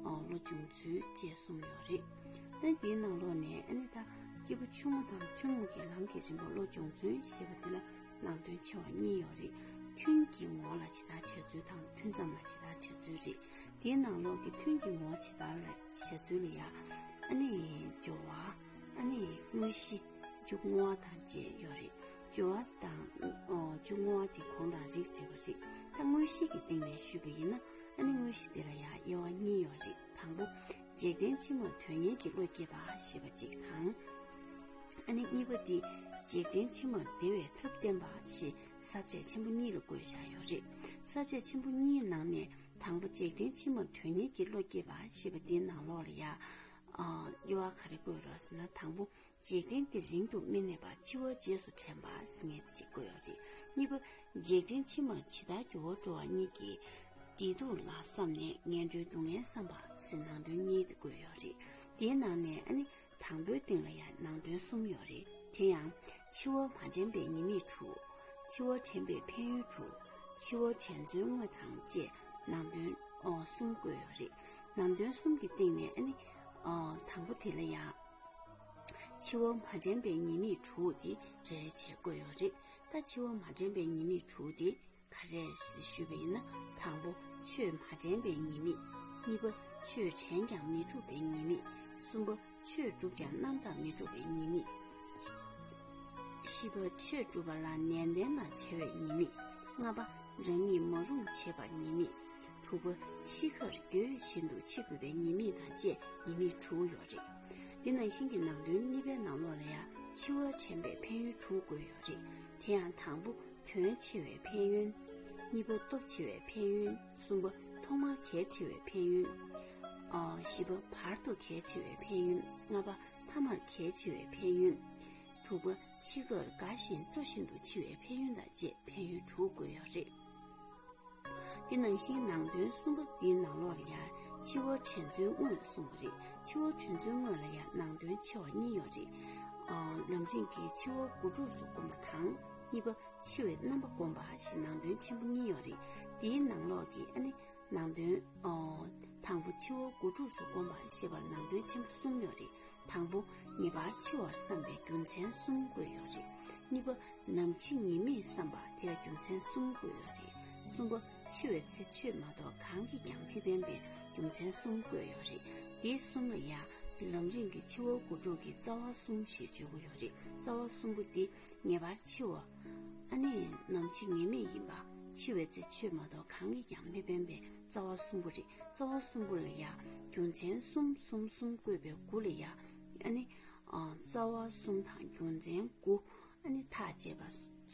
S1: ལོ་བྱུང་ཚུལ་བཅས་གསུངས་ཡོད་རེད། ལན། དེའི་ནང་ལོགས་ནས་ཨ་ནེ་ད་སྐྱེས་བུ་ཆུང་ངུ་དང་ཐུན་མོང་གི་ལམ་གྱི་རིམ་པ་ལོ་བྱུང་ཚུལ་ཞེས་པ་དེ་ལ་ནང་དོན་ཆེ་བ་གཉིས་ཡོད་རེད། ཐུན་གྱི་ངོ་ལ་ཇི་ལྟར་བྱེད་ཚུལ་དང་ཐུན་ཙམ་ལ་ཇི་ལྟར་བྱེད་ཚུལ་རེད། དེའི་ནང་ལོགས་ཀྱི་ཐུན་གྱི་ངོ་ཇི་ལྟར་ལ་བྱེད་ཚུལ་ལ་ཡང། ཨ་ནེ་སྦྱོར་བ། ཨ་ནེ་དངོས་གཞི། འཇུག་ངོ་བ་དང་བཅས་ཡོད་རེད། སྦྱོར་བ་དང་བཅུ་བསྔོ་བ་དེ་གོང་དང་རིགས་འདྲེས་པ་རེད་ད་དངོས་གཞི་གི་སྟེང་ནས་ཞུས་པ་ཡིན་ན་ཨ་ནི་དངོས་གཞི་དེ་ལ་ཡང་དབྱེ་བ་གཉིས་ཡོད་རེད་དང་པོ་འཇིག་རྟེན་ཕྱི་མར་དོན་གཉེར་གྱི་བློ་སྐྱེས་པ་ཞེས་པ་གཅིག་དང། ཨ་ནི་གཉིས་པ་འདི་འཇིག་རྟེན་ཕྱི་མར་བདེ་བའི་ཐབས་བསྟན་པ་ཞེས་ཟབ་ཆ་ཆེན་པོ་གཉིས་ལ་བཀོད་བཞག་ཡོད་རེད་ཟབ་ཆ་ཆེན་པོ་གཉིས་ནང་ནས་དང་པོ་འཇིག་རྟེན་ཕྱི་མར་དོན་གཉེར་གྱི་བློ་སྐྱེས་པ་ཞེས་པ་འདིའི་ནང་ལོགས་ལ་ཡང་དབྱེ་བ་ག་རེ་བཀོད་རོགས་ཟེར་ན་དང་པོ་འཇིག་རྟེན་འདི་རིང་དུ་མི་གནས་པར་འཆི་བ་རྗེས་སུ་དྲན་པ་ཟིན་ངེས་ཅིག་དགོས་རེད་གཉིས་པ། འཇིག་རྟེན་ཕྱི་མར་ཇི་ལྟར་འགྱུར་བ་འགྲོ་བ་གཉིས་ཀྱི་བདེ་སྡུག་ལ་བསམ་ནས་ངན་འགྲོའི་སྡུག་བསྔལ་བསམ་པ་ཟིན་ནང་དོན་གཉིས་དེ་དགོས་ཡོད་རེད་དེའི་ནང་ནས་ཨ་ནི་དང་པོའི་སྟེང་ལ་ཡང་ནང་དོན་གསུམ་ཡོད་རེད་དེ་ཡང། འཆི་བ་མ་དྲན་པའི་ཉེས་དམིགས་དྲུག། འཆི་བ་དྲན་པའི་ཕན་ཡོན་དྲུག། འཆི་བ་དྲན་ཚུལ་དངོས་དང་བཅས་ནང་དོན་གསུམ་དགོས་ཡོད་རེད་ནང་དོན་གསུམ་གྱི་སྟེང་ནས་ཨ་ནི། དང་པོ་དེ་ལ་ཡང། འཆི་བ་མ་དྲན་པའི་ཉེས་དམིགས་དྲུག་དེ་རེ་རེ་བྱེད་དགོས་ཡོད་རེད་ད་འཆི་བ་མ་དྲན་པའི་ཉེས་དམིགས་དྲུག་དེ་ག་རེ་ཞུས་པ་ཡིན་ན་དང་པོ་ཆོས་མ་དྲན་པའི་ཉེས་དམིགས་གཉིས་པ་ཆོས་དྲན་ཀྱང་མི་ཐུབ་པའི་ཉེས་དམིགས་གསུམ་པ་ཆོས་བསྒྲུབ་ཀྱང་རྣམ་དག་མི་འགྲུབ་པའི་ཉེས་དམིགས་བཞི་པ་ཆོས་བསྒྲུབ་པ་ལ་ནན་ཏན་དང་བྲལ་བའི་ཉེས་དམིགས་ལྔ་པ་རང་ཉིད་མ་རུངས་བྱེད་པར་ཉེས་དམིགས་དྲུག་པ། ཤི་ཁར་རྒྱུས་བཞིན་དུ་འཆི་དགོས་པའི་ཉེས་དམིགས་དང་བཅས་ཉེས་དམིགས་དྲུག་ཡོད་རེད། འདི་ནང་བཞིན་གྱི་ནང་དོན་གཉིས་པའི་ནང་ལོགས་ལ་ཡང་འཆི་བར་བྱན་པའི་ཕན་ཡོན་དྲུག་བཀོད་ཡོད་རེད། དེ་ཡང་དང་པོ་དོན་ཆེ་བའི་ཕན་ཡོན། གཉིས་པ་སྟོབས་ཆེ་བའི་ཕན་ཡོན། གསུམ་པ་ཐོག་མར་གལ་ཆེ་བའི་ཕན་ཡོན། བཞི་པ་བར་དུ་གལ་ཆེ་བའི་ཕན་ཡོན། ལྔ་པ་མཐའ་མར་གལ་ཆེ་བའི་ཕན་ཡོན། དྲུག་པ་འཆི་ཁར་དགའ་ཞིང་སྤྲོ་བཞིན་དུ་འཆི་བའི་ཕན་ཡོན་དང་བཅས་ཕན་ཡོན་དྲུག་བཀོད་ཡོད་རེད། འདི་ནང་བཞིན་ནང་དོན་གསུམ་པོ་འདི་ནང་ལོགས་ལ་ཡང་ཕྱི་བོ་དྲན་ཚུལ་དངོས་ལ་གསུངས་པ་རེད་ཕྱི་བོ་དྲན་ཚུལ་དངོས་ལ་ཡང་ནང་དོན་ཆེ་བ་གཉིས་ཡོད་རེད། ནང་བཞིན་གྱི་ཕྱི་བོ་དགུ་ཕྲུགས་སུ་བསྒོམ་པ་དང། གཉིས་པ་ཕྱི་བའི་རྣམ་པ་བསྒོམ་པ་ཞེས་ནང་དོན་ཆེན་པོ་གཉིས་ཡོད་རེད། འདིའི་ནང་ལོགས་ཀྱི་ཨ་ནི་ནང་དོན། དང་པོ་ཕྱི་བོ་དགུ་ཕྲུགས་སུ་བསྒོམ་པ་ཞེས་པར་ནང་དོན་ཆེན་པོ་གསུམ་ཡོད་རེད། དང་པོ། ངེས་པར་འཆི་བར་བསམ་པའི་རྒྱུ་མཚན་གསུམ་བཀོད་ཡོད་རེད། གཉིས་པ། ནམ་འཆི་ངེས་མེད་བསམ་པ་དེར་རྒྱུ་མཚན་གསུམ་བཀོད་ཡོད་རེད། གསུམ་པ། འཆི་བའི་ཚེ་ཆོས་མ་གཏོགས་གང་གིས་ཀྱང་མི་ཕན་པའི་རྒྱུ་མཚན་གསུམ་བཀོད་ཡོད་རེད། འདི་གསུམ་ལ་ཡང། ལམ་རིམ་གྱི་ཕྱི་བ་དགུ་དྲུག་གི་རྩ་བ་གསུམ་ཞེས་བརྗོད་དགོས་ཡོད་རེད། རྩ་བ་གསུམ་པོ་འདི། ངེས་པར་འཆི་བ། ཨ་ནི། ནམ་འཆི་ངེས་མེད་ཡིན་པ། འཆི་བའི་ཚེ་ཆོས་མ་གཏོགས་གང་གིས་ཀྱང་མི་ཕན་པའི། རྩ་བ་གསུམ་པོ་རེད་རྩ་བ་གསུམ་པོ་ལ་ཡང་རྒྱུ་མཚན་གསུམ་གསུམ་གསུམ་བཀོད་པའི་དགུ་ལ་ཡང་ཨ་ནི། རྩ་བ་གསུམ་དང་རྒྱུ་མཚན་དགུ་ཨ་ནི་ཐག་བཅད་པ་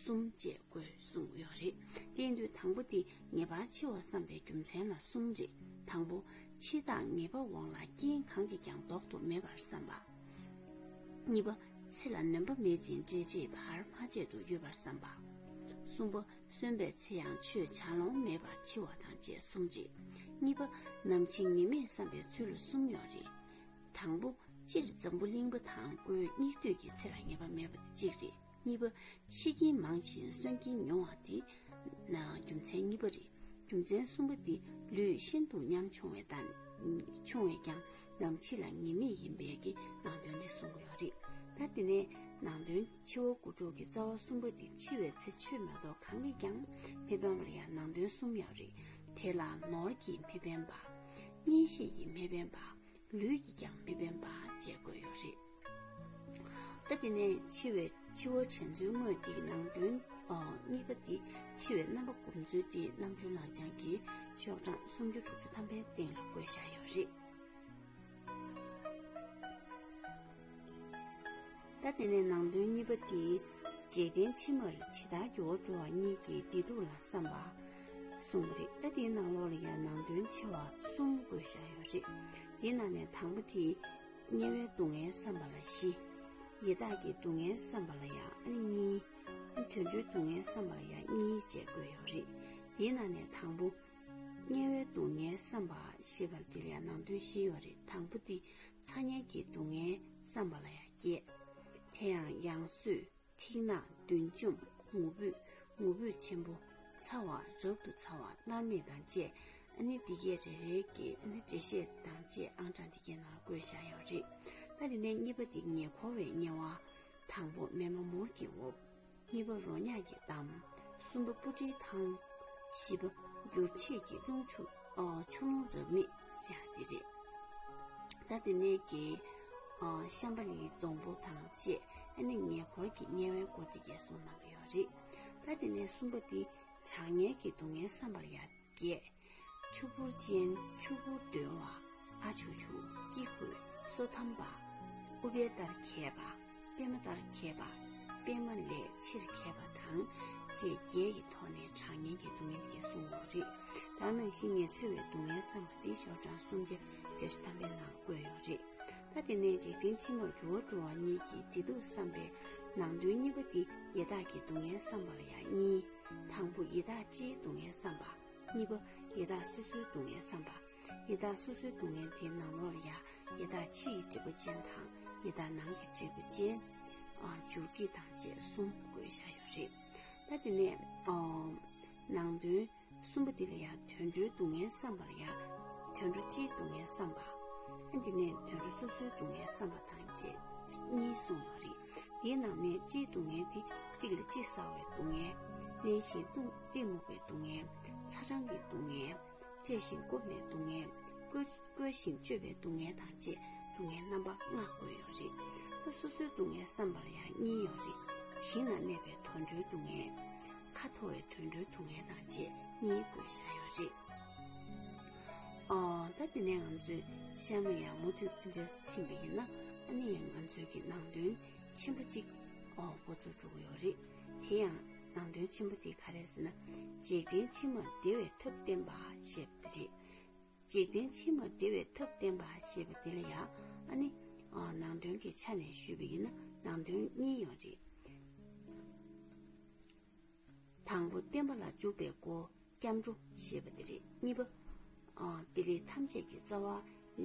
S1: གསུམ་བཅས་དགོས་གསུངས་ཡོད་རེད། གཏན་དུ་དང་པོ་འདི་ངེས་པར་འཆི་བར་བསམ་པའི་རྒྱུ་མཚན་ལ་གསུམ་རེད་དང་པོ། འཆི་བདག་ངེས་པ་འོང་ལ་རྐྱེན་གང་གིས་ཀྱང་ལྡོག་ཏུ་མེད་པར་བསམ་པ། གཉིས་པ། ཚེ་ལ་ནོན་པ་མེད་ཅིང་འབྲེལ་བྱེད་བར་མ་ཆད་དུ་ཡོད་པར་བསམ་པ། གསུམ་པ། གསོན་པའི་ཚེ་ཡང་ཆོས་བྱ་ལོང་མེད་པར་འཆི་བ་དང་བཅས་གསུམ་རེད། གཉིས་པ། ནམ་འཆི་ངེས་མེད་བསམ་པའི་ཚུལ་ལ་གསུམ་ཡོད་རེད། དང་པོ། སྤྱིར་འཛམ་བུ་གླིང་པ་དང་པོའི་སྙིགས་དུས་ཀྱི་ཚེ་ལ་ངེས་པ་མེད་པ་དེ་གཅིག་རེད། གཉིས་པ། འཆི་རྐྱེན་མང་ཞིང་གསོན་རྐྱེན་ཉུང་བ་དེ་ན་རྒྱུ་མཚན་གཉིས་པ་རེད། རྒྱུ་མཚན་གསུམ་པ་འདི་ལུས་ཤིན་ཏུ་ཉམ་ཆུང་བས་དང། ཆུང་བས་ཀྱང་ནམ་འཆི་ལ་ངེས་མེད་ཡིན་པས་ཀྱི་ནང་དོན་འདི་གསུང་གི་ཡོད་རེད། ད་འདི་ནས་ནང་དོན། འཆི་བ་དགུ་དྲུག་གི་རྩ་བ་གསུམ་པ་འདི་འཆི་བའི་ཚེ་ཆོས་མ་གཏོགས་གང་གིས་ཀྱང་མི་ཕན་པར་ཡང་ནང་དོན་གསུམ་ཡང་རིག། དེ་ལ་ནོར་གྱིས་མི་ཕན་པ། གཉེན་ཤེས་ཀྱིས་མི་ཕན་པ། ལུས་ཀྱིས་ཀྱང་མི་ཕན་པ་བཅས་བཀོད་ཡོད་རེད། ད་དེ་ནས་འཆི་བའི་འཆི་བ་བྱེད་ཚུལ་དངོས་འདི་གི་ནང་དོན། གཉིས་པ་འདི་འཆི་བའི་རྣམ་པ་བསྒོམ་ཚུལ་འདི་རྣམ་འཕྲུལ་ལག་བཅངས་ཀྱི་ཤོག་གྲངས་སུམ་ཅུ་དྲུག་ཅུ་ཐམ་པའི་སྟེང་ལ་བཀོད་བཞག་ཡོད་རེད། ད་དེ་ནས་ནང་དོན་གཉིས་པ་སྟེ། རྗེས་བསྟན་ཕྱི་མར་ཇི་ལྟར་འགྱུར་བ་འགྲོ་བ་གཉིས་ཀྱི་བདེ་སྡུག་ལ་བསམ་པ། གསུངས་པ་རེད། ད་དེའི་ནང་ལོགས་ལ་ཡང་ནང་དོན་ཆེ་བ་གསུམ་བཀོད་བཞག་ཡོད་རེད། དེའི་ནང་ནས་དང་པོ་དེ། དམྱལ་བའི་སྡུག་བསྔལ་བསམ་པ་ལ་བཞི། ཡི་དྭགས་ཀྱི་སྡུག་བསྔལ་བསམ་པ་ལ་ཡང་ཨ་ནི་གཉིས། དུད་འགྲོའི་སྡུག་བསྔལ་བསམ་པ་ལ་ཡང་གཉིས་བཅས་བཀོད་ཡོད་རེད། དེའི་ནང་ནས་དང་པོ། དམྱལ་བའི་སྡུག་བསྔལ་བསམ་པ་ཞེས་པ་འདིར་ཡང་ནང་དོན་བཞི་ཡོད་རེད་དང་པོ་འདི་ཚ་དམྱལ་གྱི་སྡུག་བསྔལ་བསམ་པ་ལ་ཡང་སྐྱེ། དེ་ཡང་ཡང་བསོད་ཐིག་ནག་བདུན་འཇོམས་ངུ་འབོད་ངུ་འབོད་ཆེན་པོ་ཚ་བ་རབ་ཏུ་ཚ་བ་མནར་མེད་དང་བཅས་ཨ་ནི་འདི་སྐད་རེ་རེ་ཀྱི་ཨ་ནི་འགྲེལ་བཤད་དང་བཅས་ཨང་གྲངས་འདི་སྐད་ནང་ལ་བཀོད་བཞག་ཡོད་རེད་ད་དེ་ནས་གཉིས་པ་འདི་ཉེ་འཁོར་བའི་དམྱལ་བ། དང་པོ་མེ་མ་མུར་གྱི་འོབས། གཉིས་པ་རོ་མྱགས་ཀྱི་གཏམ། གསུམ་པ་སྤུ་གྲིའི་ཐང། བཞི་པ་འགྱུར་བྱེད་ཀྱི་རླུང། ཆུ་ཀླུང་རབ་མེད་བསྲེག་འདི་རེད། ད་ལྟ་ནས་ཀྱི་ཤམ་པ་ལིའི་སྡོང་པོ་དང་བཅས་ཨ་ནེ་ཉེ་འཁོར་གྱི་དམྱལ་བའི་སྒོ་དེ་བརྒྱད་སོང་གནང་གི་ཡོད་རེད། ད་དེ་ནས་གསུམ་པ་འདི་དྲག་གཉེར་གྱི་སྡུག་བསྔལ་བསམ་པར་ཡང་བརྒྱད། ཕྱུག་པོར་ཅན་ཕྱུག་པོ་འདོན་བ་ཨ་ཆུག་ཆུག་སྐྱིད་རྒོད་སོ་ཐམ་པ། ཨུ་པེ་ལྟར་མཁས་པ་པད་མ་ལྟར་མཁས་པ་པད་མ་ལས་ཆེར་མཁས་པ་དང་བཅས་བརྒྱད་ཀྱི་ཐོག་ནས་གྲགས་སྙན་གྱི་སྡུག་བསྔལ་བརྒྱད་གསུངས་འོག་རི་དྭགས་ནང་བཞིན་ངལ་འཚོལ་བའི་སྡུག་བསྔལ་བསམ་པ་འདི་ཤོག་གྲངས་སུམ་བརྒྱ་བརྒྱ་ཞེ་ཐམ་པའི་ནང་བཀོད་ཡོད་རེད་ད་དེ་ནས་འཇིག་རྟེན་ཕྱི་མར་རྒྱུ་བ་འགྲོ་བ་གཉིས་ཀྱི་བདེ་སྡུག་བསམ་པའི་ནང་དོན་གཉིས་པ་འདི་ཡེ་དག་གི་སྡུག་བསྔལ་བསམ་པ་ལ་ཡང་གཉིས། དང་པོ་ཡེ་དག་སྤྱིའི་སྡུག་བསྔལ་བསམ་པ། གཉིས་པ། ཡི་དྭགས་སོ་སོའི་སྡུག་བསྔལ་བསམ་པ། ཡི་དྭགས་སོ་སོའི་སྡུག་བསྔལ་དེ་ནང་ལོགས་ལ་ཡང་ཡི་དྭགས་ཕྱི་ཡི་འབྲས་བུ་ཅན་དང་ཡི་དྭགས་ནང་གི་འབྲས་བུ་ཅན། འཇུར་གྱི་དང་བཅས་གསུམ་དགོས་བཞག་ཡོད་རེད། ད་དེ་ནས། ནང་དོན། གསུམ་པ་འདི་ལ་ཡང་དུད་འགྲོའི་སྡུག་བསྔལ་བསམ་པར་ཡང། དུད་འགྲོ་སྤྱིའི་སྡུག་བསྔལ་བསམ་པ། ཨ་འདི་ནས་དུད་འགྲོ་སོ་སོའི་སྡུག་བསྔལ་བསམ་པ་དང་བཅས་གཉིས་གསུངས་ཡོད་རེད། དེའི་ནང་ནས་སྤྱིའི་སྡུག་བསྔལ་ཏེ་གཅིག་ལ་གཅིག་བསགས་བའི་སྡུག་བསྔལ། གླེན་ཞིང་སྐུག་སྟེ་མུག་པའི་སྡུག་བསྔལ། ཚ་གྲང་གི་སྡུག་བསྔལ། བཅད་ཞིང་རྐུབ་ནས་སྡུག་བསྔལ། བསྐོལ་ཞིང་གཅོད་པའི་སྡུག་བསྔལ་དང་བཅས་སྡུག་བསྔལ་རྣམ་པ་ལྔ་བཀོད་ཡོད་རེད། སོ་སོའི་སྡུག་བསྔལ་བསམ་པར་ཡང་གཉིས་ཡོད་རེད། བྱིངས་ན་གནས་པའི་དུད་འགྲོའི་སྡུག་བསྔལ། ཁ་འཐོར་བའི་དུད་འགྲོའི་སྡུག་བསྔལ་དང་བཅས་གཉིས་བཀོད་བཞག་ཡོད་རེད། ད་དེ་ནས་ང་ཚོས་ཤར་ནས་ཡང་མུ་མཐུད་འབྲས་སུ་ཕྱིན་པ་ཡིན་ན་ཨ་ནི་ཡང་ང་ཚོའི་གི་ནང་དོན་ཆེན་པོ་གཅིག་འགོ་ཚུགས་འགྲོ་གི་ཡོད་རེད། དེ་ཡང་ནང་དོན་ཆེན་པོ་དེ་ག་རེད་ཟེར་ན། འཇིག་རྟེན་ཕྱི་མར་བདེ་བའི་ཐབས་བསྟན་པ་ཞེས་པ་དེ་རེད། འཇིག་རྟེན་ཕྱི་མར་བདེ་བའི་ཐབས་བསྟན་པ་ཞེས་པ་དེ་ལ་ཡང་ཨ་ནི་ནང་དོན་གྱི་ཆ་ནས་ཞུས་པ་ཡིན་ན་ནང་དོན་གཉིས་ཡོད་རེད། དང་པོ་བསྟན་པ་ལ་འཇུག་པའི་སྒོ་སྐྱབས་འགྲོ་ཞེས་པ་འདི་རེད་གཉིས་པ། དེ་རིགས་ཐམས་ཅད་ཀྱི་རྩ་བ་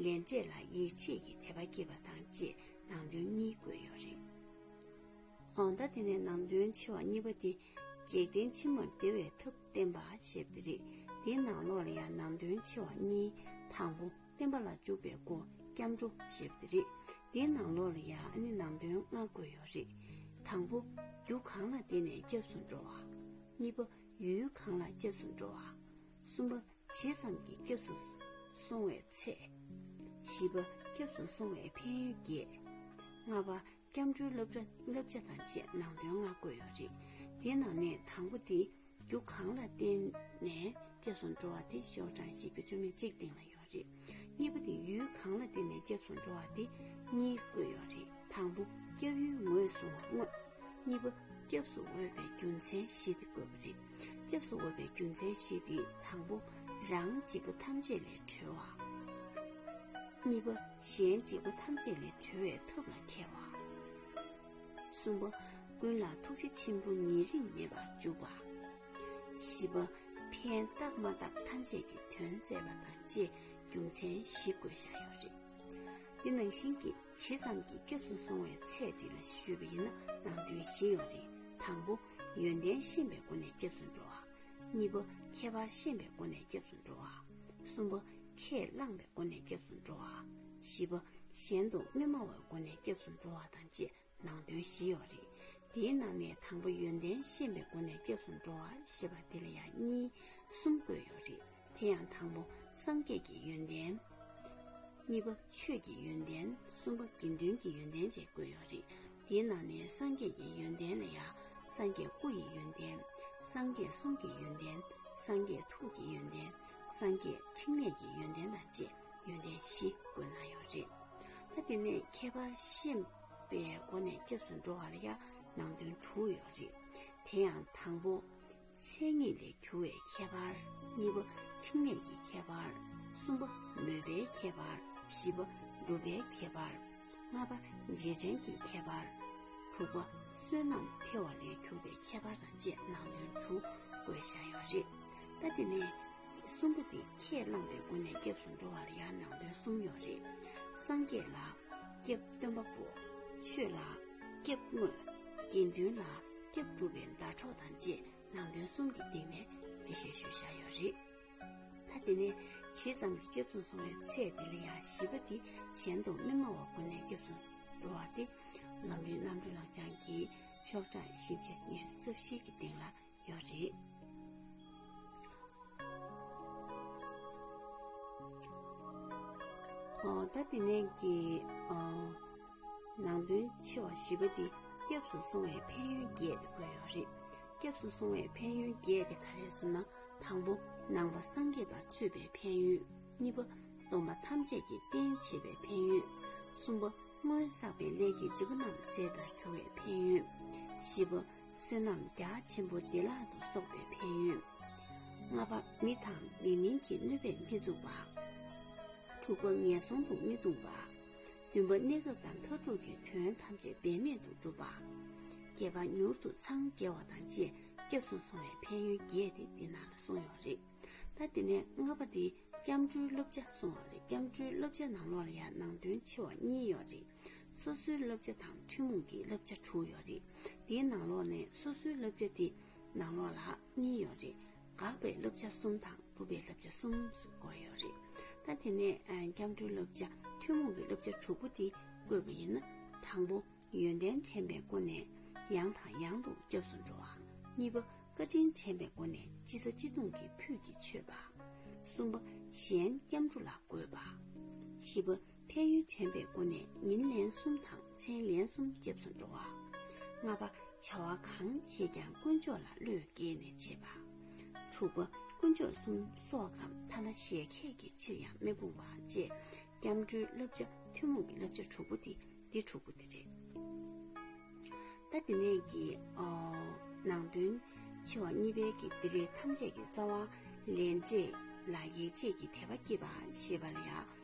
S1: ལས་འབྲས་ལ་ཡིད་ཆེས་ཀྱི་དད་པ་སྐྱེས་པ་དང་བཅས་ནང་དོན་གཉིས་བཀོད་ཡོད་རེད། ད་དེ་ནས་ནང་དོན་ཆེ་བ་གཉིས་པ་དེ། འཇིག་རྟེན་ཕྱི་མར་བདེ་བའི་ཐབས་བསྟན་པ་ཞེས་པ་འདི་རེད། དེའི་ནང་ལོགས་ལ་ཡང་ནང་དོན་ཆེ་བ་གཉིས་དང་པོ། བསྟན་པ་ལ་འཇུག་པའི་སྒོ་སྐྱབས་འགྲོ་ཞེས་པ་དེ་རེད། འདིའི་ནང་ལོགས་ལ་ཡང་ཨ་ནི་ནང་དོན་ལྔ་བཀོད་ཡོད་རེད། དང་པོ། རྒྱུ་གང་ལ་བརྟེན་ནས་སྐྱབས་སུ་འགྲོ་བ། གཉིས་པ། ཡུལ་གང་ལ་སྐྱབས་སུ་འགྲོ་བ། གསུམ་པ། ཇི་ཙམ་གྱིས་སྐྱབས་སུ་སོང་བའི་ཚད། བཞི་པ། སྐྱབས་སུ་སོང་བའི་ཕན་ཡོན་བརྒྱད། ལྔ་པ། སྐྱབས་འགྲོའི་བསླབ་བྱ་བསླབ་བྱ་དང་བཅས་ནང་དོན་ལྔ་བཀོད་ཡོད་རེད། དེའི་ནང་ནས་དང་པོ་དེ་རྒྱུ་གང་ལ་བརྟེན་ནས་སྐྱབས་སུ་འགྲོ་བ་དེ་ཤོག་གྲངས་ཤིག་གི་བཅོས་མའི་གཅིག་སྟེང་ལ་ཡོད་རེད། གཉིས་པ་དེ་ཡུལ་གང་ལ་བརྟེན་ནས་སྐྱབས་སུ་འགྲོ་བ་དེ་གཉིས་བཀོད་ཡོད་རེད། དང་པོ་སྐྱབས་ཡུལ་ངོས་བཟུང་བ་དངོས། གཉིས་པ་སྐྱབས་སུ་འོས་པའི་རྒྱུ་མཚན་བཞི་སྟེ་བཀོད་པ་རེད། སྐྱབས་སུ་འོས་པའི་རྒྱུ་མཚན་བཞི་སྟེ་དང་པོ་རང་འཇིག་པ་ཐམས་ཅད་ལས་གྲོལ་བ། གཉིས་པ་གཞན་འཇིག་པ་ཐམས་ཅད་ལས་གྲོལ་བའི་ཐབས་ལ་མཁས་བ། གསུམ་པ་ཀུན་ལ་ཐུགས་རྗེ་ཆེན་པོ་ཉེ་རིང་མེད་པར་འཇུག་པ། བཞི་པ་ཕན་བཏགས་མ་བཏགས་ཐམས་ཅད་ཀྱི་དོན་མཛད་པ་དང་བཅས་རྒྱུ་མཚན་བཞི་བཀོད་བཞག་ཡོད་པ་རེད། འདི་ནང་བཞིན་གྱི་ཇི་ཙམ་གྱི་སྐྱབས་སུ་སོང་བའི་ཚད་འདི་ལ་ཞུས་པ་ཡིན་ན་ནང་དོན་བཞི་ཡོང་རེད་དང་པོ། ཡོན་ཏན་ཤེས་པའི་སྒོ་ནས་སྐྱབས་སུ་འགྲོ་བ། གཉིས་པ། ཁྱད་པར་ཤེས་པའི་སྒོ་ནས་སྐྱབས་སུ་འགྲོ་བ། གསུམ་པ། ཁས་བླངས་པའི་སྒོ་ནས་སྐྱབས་སུ་འགྲོ་བ། བཞི་པ། གཞན་དུ་མི་སྨྲ་བའི་སྒོ་ནས་སྐྱབས་སུ་འགྲོ་བ་དང་བཅས་ནང་དོན་བཞི་ཡོད་རེད། འདིའི་ནང་ནས་དང་པོ་ཡོན་ཏན་ཤེས་པའི་སྒོ་ནས་སྐྱབས་སུ་འགྲོ་བ་ཞེས་པ་འདི་ལ་ཡང་གཉིས་གསུམ་བཀོད་ཡོད་རེད། དེ་ཡང་དང་པོ་སངས་རྒྱས་ཀྱི་ཡོན་ཏན། གཉིས་པ་ཆོས་ཀྱི་ཡོན་ཏན་གསུམ་པ་དགེ་འདུན་གྱི་ཡོན་ཏན་བཅས་བཀོད་ཡོད་རེད། དེའི་ནང་ནས་སངས་རྒྱས་ཀྱི་ཡོན་ཏན་ལ་ཡང་སངས་རྒྱས་སྐུ་ཡི་ཡོན་ཏན། སངས་རྒྱས་གསུང་གི་ཡོན་ཏན། སངས་རྒྱས་ཐུགས་ཀྱི་ཡོན་ཏན། སངས་རྒྱས་ཕྲིན་ལས་ཀྱི་ཡོན་ཏན་དང་བཅས་ཡོན་ཏན་བཞི་བཀོད་གནང་ཡོད་རེད། ད་དེ་ནས་ཁྱད་པར་ཤེས་པའི་སྒོ་ནས་སྐྱབས་སུ་འགྲོ་བ་ལ་ཡང་ནང་དོན་དྲུག་ཡོད་རེད། དེ་ཡང་དང་པོ། མཚན་ཉིད་ལས་གྱུར་བའི་ཁྱད་པར་གཉིས་པ་འཕྲིན་ལས་ཀྱི་ཁྱད་པར་གསུམ་པ་མོས་པའི་ཁྱད་པར་བཞི་པ་སྒྲུབ་པའི་ཁྱད་པར་ལྔ་པ་རྗེས་དྲན་གྱི་ཁྱད་པར་དྲུག་པ་བསོད་ནམས་འཕེལ་བ་ལས་གྱུར་པའི་ཁྱད་པར་དང་བཅས་ནང་དོན་དྲུག་བཀོད་བཞག་ཡོད་པ་རེད། ད་དེ་ནས་གསུམ་པ་དེ་ཁས་བླངས་པའི་སྒོ་ནས་སྐྱབས་སུ་འགྲོ་བ་ལ་ཡང་ནང་དོན་གསུམ་ཡོད་རེད། སངས་རྒྱས་ལ། སྐྱབས་སྟོན་པ་པོ། ཆོས་ལ། སྐྱབས་དངོས། དགེ་འདུན་ལ། སྐྱབས་སྒྲུབ་པའི་ཟླ་གྲོགས་དང་བཅས་ནང་དོན་གསུམ་གྱི་སྟེང་ནས་འབྲི་བཤད་ཞུ་བཞག་ཡོད་རེད། ད་དེ་ནས་ཇི་ཙམ་གྱི་སྐྱབས་བཙུན་སོང་བའི་ཚད་དེ་ལ་ཡང་བཞི་པ་དེ་གཞན་དུ་མི་སྨྲ་བ་དགོན་ནས་སྐྱབས་བཙུན་འགྲོ་བ་སྟེ་ལམ་རིམ་རྣམ་གྲོལ་ལག་བཅངས་ཀྱི་ཆོག་གྲངས་བཞི་བརྒྱ་ཉི་ཤུ་རྩ་བཞི་གྱི་སྟེང་ལ་ཡོད་རེད། ད་དེ་ནས་ཀྱི། ནང་དོན་ཆེ་བ་བཞི་པ་འདི་སྐྱབས་སུ་སོང་བའི་ཕན་ཡོན་བརྒྱད་དེ་བཀོད་ཡོད་རེད། སྐྱབས་སུ་སོང་བའི་ཕན་ཡོན་བརྒྱད་དེ་ག་རེ་གསུམ་ན་དང་པོ་ནང་པ་སངས་རྒྱས་པར་སྤྱོད་པའི་ཕན་ཡོན། གཉིས་པ་སྡོམ་པ་ཐམས་ཅད་ཀྱི་རྟེན་བྱེད་པའི་ཕན་ཡོན། གསུམ་པ་སྔོན་བསགས་པའི་ལས་ཀྱི་འབྲས་བུ་རྣམས་ཟད་པར་གྱུར་བའི་ཕན་ཡོན། བཞི་པ་བསོད་ནམས་རྒྱ་ཆེན་པོ་བདེ་བླག་ཏུ་གསོག་པའི་ཕན་ཡོན། ལྔ་པ་མི་དང་མི་མིན་གྱི་གནོད་པས་མི་ཚུགས་པ། དྲུག་པ་ངན་སོང་དུ་མི་ལྟུང་བ། བདུན་པ་གནས་སྐབས་དང་མཐར་ཐུག་གི་དོན་ཐམས་ཅད་འབད་མེད་དུ་བསྒྲུབ་པ། བརྒྱད་པ་མྱུར་དུ་འཚང་རྒྱ་བ་དང་བཅས་སྐྱབས་སུ་སོང་བའི་ཕན་ཡོན་བརྒྱད་དེ་འདི་ན་ལ་གསུངས་ཡོད་རེད། ད་འདི་ནས་ལྔ་པ་འདི་སྐྱབས་འགྲོའི་བསླབ་བྱ་གསུངས་བ་རེད་སྐྱབས་འགྲོའི་བསླབ་བྱ་ནང་ལོགས་ལ་ཡང་ནང་དོན་ཆེ་བ་གཉིས་ཡོད་རེད། སོ་སོའི་བསླབ་བྱ་དང་ཐུན་མོང་གི་བསླབ་བྱ་དྲུག་ཡོད་རེད། འདིའི་ནང་ལོགས་ནས་སོ་སོའི་བསླབ་བྱ་འདི་ནང་ལོགས་ལ། གཉིས་ཡོད་རེད། དགག་པའི་བསླབ་བྱ་གསུམ་དང་སྒྲུབ་པའི་བསླབ་བྱ་གསུམ་བཀོད་ཡོད་རེད། ད་དེ་ནས་སྐྱབས་འགྲོའི་བསླབ་བྱ་ཐུན་མོང་གི་བསླབ་བྱ་དྲུག་པོ་དེ་བཀོད་པ་ཡིན་ན། དང་པོ། ཡོན་ཏན་འཕྲེང་བའི་སྒོ་ནས་ཡང་དང་ཡང་དུ་སྐྱབས་སུ་འགྲོ་བ། གཉིས་པ། བཀའ་དྲིན་འཕྲེང་བའི་སྒོ་ནས་སྤྱི་ཚོགས་སྤྱི་སྟངས་ཀྱི་ཕུད་ཀྱིས་མཆོད་པ། གསུམ་པ། གཞན་སྐྱབས་འགྲོ་ལ་དགོས་པ། བཞི་པ། ཕན་ཡོན་དྲན་པའི་སྒོ་ནས་ཉིན་ལན་གསུམ་དང་མཚན་ལན་གསུམ་སྐྱབས་སུ་འགྲོ་བ། ལྔ་པ། བྱ་བ་གང་བྱེད་ཀྱང་དཀོན་མཆོག་ལ་བློས་དགྱེས་ནས་བྱེད་པ། དྲུག་པ། དཀོན་མཆོག་གསུམ་སོགས་གམ་ཐ་ན་གཞལ་ཁད་ཀྱི་ཕྱིར་ཡང་མི་སྤོང་བ་བཅས་སྐྱབས་འགྲོའི་བསླབ་བྱ་ཐུན་མོང་གི་བསླབ་བྱ་དྲུག་པོ་དེ་འདི་དྲུག་པོ་དེ་རེད། ད་དེ་ནས་ཀྱི། ནང་དོན། ཆེ་བ་གཉིས་པའི་ཀྱི་འདི་རེས་ཐམས་ཅད་ཀྱི་རྩ་བ། ལས་འབྲས་ལ་ཡིད་ཆེས་ཀྱི་དད་པ་སྐྱེས་པ་ཞེས་པ་ལ་ཡང།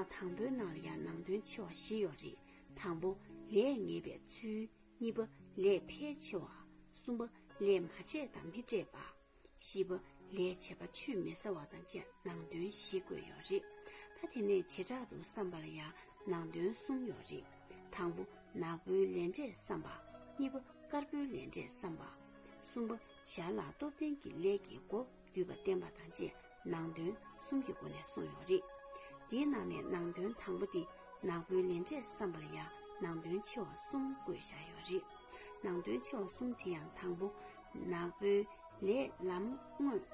S1: ཨ་དང་པོའི་ནང་ལ་ཡང་ནང་དོན་ཆེ་བ་བཞི་ཡོད་རེད་དང་པོ་ལས་ངེས་པའི་ཚུལ་གཉིས་པ་ལས་ཕལ་ཆེ་བ་གསུམ་པ་ལས་མ་བྱས་དང་མི་སྤྲད་པ་བཞི་པ་ལས་བྱས་པ་ཆུད་མི་ཟ་བ་དང་བཅས་ནང་དོན་བཞི་བཀོད་ཡོད་རེད་ད་དེ་ནས་བྱེ་བྲག་ཏུ་བསམ་པ་ལ་ཡང་ནང་དོན་གསུམ་ཡོད་རེད་དང་པོ་ནག་པོའི་ལས་འབྲས་བསམ་པ་གཉིས་པ་དཀར་པོའི་ལས་འབྲས་བསམ་པ་གསུམ་པ་ཞར་ལ་སྟོབས་ལྡན་གྱི་ལས་ཀྱི་སྒོ་བསྡུས་པ་བསྟན་པ་དང་བཅས་ནང་དོན་གསུམ་གྱི་སྒོ་ནས་གསུངས་ཡོད་རེད། དེའི་ནང་ནས་ནང་དོན་དང་པོ་འདི་ནག་པོའི་ལས་འབྲས་བསམ་པར་ཡང་ནང་དོན་ཆེ་བ་གསུམ་བཀོད་བཞག་ཡོད་རེད། ནང་དོན་ཆེ་བ་གསུམ་དེ་ཡང་དང་པོ་ནག་པོའི་ལས་ལམ་དངོས།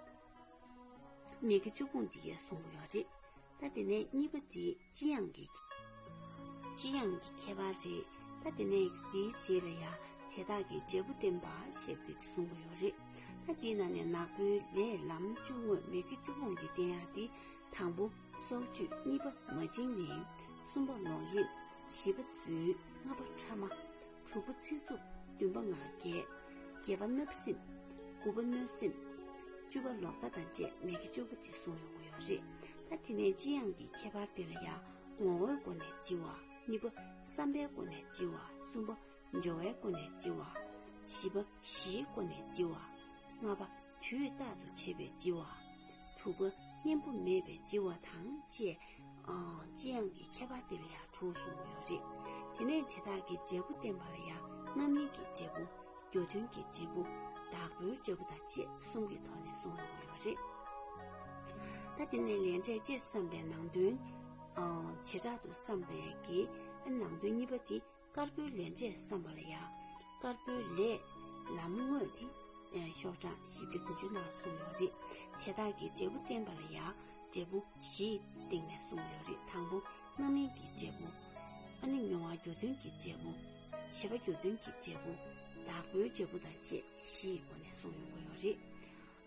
S1: མིག་གི་བཅུ་སྤུངས་འདི་གའི་གསུང་ཡོད་རེད། ད་དེ་ནས་གཉིས་པ་འདི་ལྕི་ཡང་གི། ལྕི་ཡང་གི་ཁྱད་པར་རེད། ད་དེ་ནས་འདིའི་རྗེས་ལ་ཡང་དེ་དག་གི་འབྲས་བུ་བསྟན་པ་ཞེས་པའི་གསུང་གི་ཡོད་རེད། ད་འདི་ན་ནས་ནག་པོའི་ལས་ལམ་བཅུ་དངོས་མེད་ཀྱི་བཅུ་སྤོང་གི་བསྟན་ཡང་འདི་དང་པོ། སྲོག་གཅོད་གཉིས་པ་མ་བཅིངས་ནས། གསུམ་པ་ལོག་གཡེམ། བཞི་པ་རྫུན། ལྔ་པ་ཕྲ་མ། དྲུག་པ་ཚིག་རྩུབ་བདུན་པ་ངག་འགལ་བརྒྱད་པ་བརྣབ་སེམས་དགུ་པ་གནོད་སེམས་བཅུ་པ་ལོག་ལྟ་དང་བཅས་མེད་ཀྱི་སྤྱོད་པོ་ཅིག་གསུངས་ཡོང་གི་ཡོད་རེད་ད་དེ་ནས་ལྕི་ཡང་གི་ཁྱད་པར་དེ་ལ་ཡང་ངོ་བོའི་སྒོ་ནས་ལྕི་བ་གཉིས་པ་བསམ་པའི་སྒོ་ནས་ལྕི་བ་གསུམ་པ་སྦྱོར་བའི་སྒོ་ནས་ལྕི་བ་བཞི་པ་གཞིའི་སྒོ་ནས་ལྕི་བ་ལྔ་པ་དུས་རྟག་ཏུ་བྱེད་པའི་ལྕི་བ། དྲུག་པ་གཉེན་པོ་མེད་པའི་ལྕི་བ་དང་བཅས། ལྕི་ཡང་གི་ཁྱད་པར་དེ་ལ་ཡང་དྲུག་གསུངས་པ་ཡོད་རེད། དེ་ནས་དེ་དག་གི་འབྲས་བུ་བསྟན་པ་ལ་ཡང་རྣམ་སྨིན་གྱི་འབྲས་བུ། རྒྱུ་མཐུན་གྱི་འབྲས་བུ། བདག་པོའི་འབྲས་བུ་དང་བཅས་གསུམ་གྱི་ཐོག་ནས་གསུངས་ཡོང་བ་ཡོད་རེད། ད་དེ་ནས་ལས་འབྲས་སྤྱིར་བསམ་པའི་ནང་དོན། བྱེ་བྲག་ཏུ་བསམ་པའི་གི་ནང་དོན་གཉིས་པ་དེ། དཀར་པོའི་ལས་འབྲས་བསམ་པ་ལ་ཡང་དཀར་པོའི་ལས། ལམ་དངོས་ཏེ། ཤོག་གྲངས་བཞི་བརྒྱ་དགུ་བཅུ་ནང་གསུངས་ཡོད་རེད། དེ་དག་གི་འབྲས་བུ་བསྟན་པ་ལ་ཡང་འབྲས་བུ་བཞི་སྟེང་ནས་གསུངས་ཡོད་རེད་དང་པོ་རྣམ་སྨིན་གྱི་འབྲས་བུ། ཨ་ནི་མྱོང་བ་འགྱུར་དོན་གྱི་འབྲས་བུ། བྱེད་པ་འགྱུར་དོན་གྱི་འབྲས་བུ། བདག་པོའི་འབྲས་བུ་དང་བཅས་བཞི་ཡི་སྒོ་ནས་གསུངས་ཡོང་གི་ཡོད་རེད།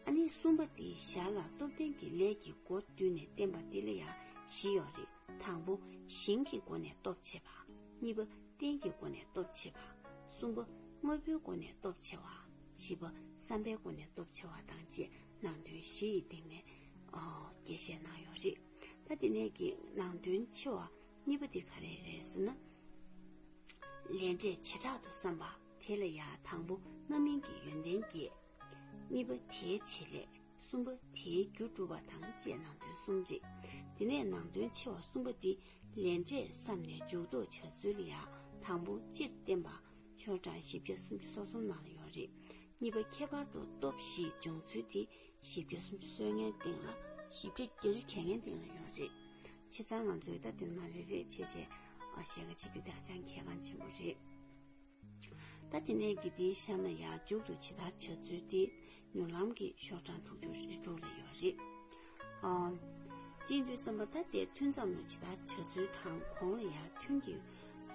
S1: ཨ་ནི་གསུམ་པ་དེ་ཞར་ལ་སྟོབས་ལྡན་གྱི་ལས་ཀྱི་སྒོ་བསྟུན་ནས་བསྟན་པ་འདི་ལ་ཡང་བཞི་ཡོད་རེད། དང་པོ་ཞིང་གི་སྒོ་ནས་སྟོབས་ཆེ་བ། གཉིས་པ་རྟེན་གྱི་སྒོ་ནས་སྟོབས་ཆེ་བ། གསུམ་པ་དངོས་པོའི་སྒོ་ནས་སྟོབས་ཆེ་བ། བཞི་པ་བསམ་པའི་སྒོ་ནས་སྟོབས་ཆེ་བ་དང་བཅས་ནང་དོན་བཞི་ཡི་སྟེང་ནས་རྒྱས་བཤད་གནང་ཡོད་རེད། ད་དེ་ནས་ཀྱི་ནང་དོན་ཆེ་བ་གཉིས་པ་དེ་ག་རེ་རེད་ཟེར་ན། ལས་འབྲས་བྱེ་བྲག་ཏུ་བསམ་པ་དེ་ལ་ཡང་དང་པོ་རྣམ་སྨིན་གྱི་ཡོན་ཏན་བརྒྱད། གཉིས་པ་དེའི་བྱེད་ལས། གསུམ་པ་དེའི་རྒྱུ་སྒྲུབ་པ་དང་བཅས་ནང་དོན་གསུམ་རེད། དེ་ནས་ནང་དོན་ཆེ་བ་གསུམ་པ་འདི་ལན་ཆད་བསམ་ནས་འཇུག་ལྡོག་བྱ་ཚུལ་ཡང་དང་པོ་སྤྱིར་བསྟན་པ་ཆོས་གྲངས་བཞི་བརྒྱ་སུམ་ཅུ་སོ་གསུམ་ནང་ལ་ཡོད་རེད། གཉིས་པ་ཁྱད་པར་དུ་སྟོབས་བཞི་སྦྱོང་ཚུལ་དེ་བཞི་བརྒྱ་སུམ་ཅུ་སོའི་ངན་སྟེང་ལ། བཞི་བརྒྱ་བརྒྱད་ཅུ་གྱ་ངན་སྟེང་ལ་ཡོད་རེད། ཁྱེད་ཚང་ང་ཚོའི་ད་དོན་མ་རེ་རེ་བྱས་བྱས་བཤད་ག་བྱེད་རྒྱུ་དེ་ཧ་ཅང་གལ་འགངས་ཆེན་པོ་རེད། ད་དེ་ནས་དགེ་སྡིག་བཤམས་ན་ཡང་འཇུག་ཏུ་ཇི་ལྟར་བྱ་ཚུལ་དེ་ཉོ་ལམ་གྱི་ཤོག་གྲངས་དྲུག་ཅུ་རེ་དྲུག་ལ་ཡོད་རེད། སྤྱི་འཐུས་ཚན་པ་ད་ལྟའི་ཐུན་མཚམས་ལ་ཇི་ལྟར་བྱ་ཚུལ་དང་གོང་ལ་ཡང་ཐུན་གྱི་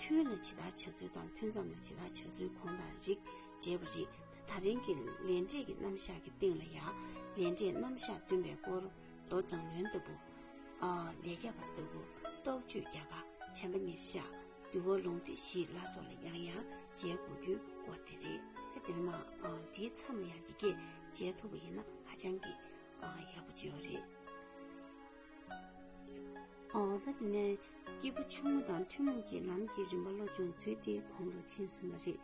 S1: ཐུན་ལ་ཇི་ལྟར་བྱ་ཚུལ་དང་ཐུན་མཚམས་ལ་ཇི་ལྟར་བྱ་ཚུལ་གོང་དང་རིགས་འདྲེས་པ་རེད། ད་རིང་གི་ལས་འབྲས་ཀྱི་རྣམ་གཞག་གི་སྟེང་ལ་ཡང་ལས་འབྲས་རྣམ་གཞག་བསྟུན་པའི་སྐོར་མདོ་བརྫངས་ལོན་ལྟ་བུ། ལས་རྒྱ་བ་ལྟ་བུ། རྟོག་དཔྱོད་རྒྱ་བ་བྱམས་པ་ཉེར་བཞག། འདུལ་བ་ལུང་སྡེ་བཞི་ལ་སོགས་ལ་ཡང་ཡང་མཇལ་དགོས་རྒྱུའི་སྐོར་དེ་རེད། དེ་ནི་མ་འདིའི་མཚམས་ལ་ཡང་འདི་སྐད་མཇལ་ཐུབ་པ་ཡིན་ན་ཧ་ཅང་གི་ཡག་པོ་བྱས་བ་རེད། ད་དེ་ནས་སྐྱེས་བུ་ཆུང་ངུ་དང་ཐུན་མོང་གི་ལམ་གྱི་རིམ་པ་བློ་སྦྱོང་ཚུལ་དེ་གོང་དུ་མཆིས་ཟིན་པ་རེད།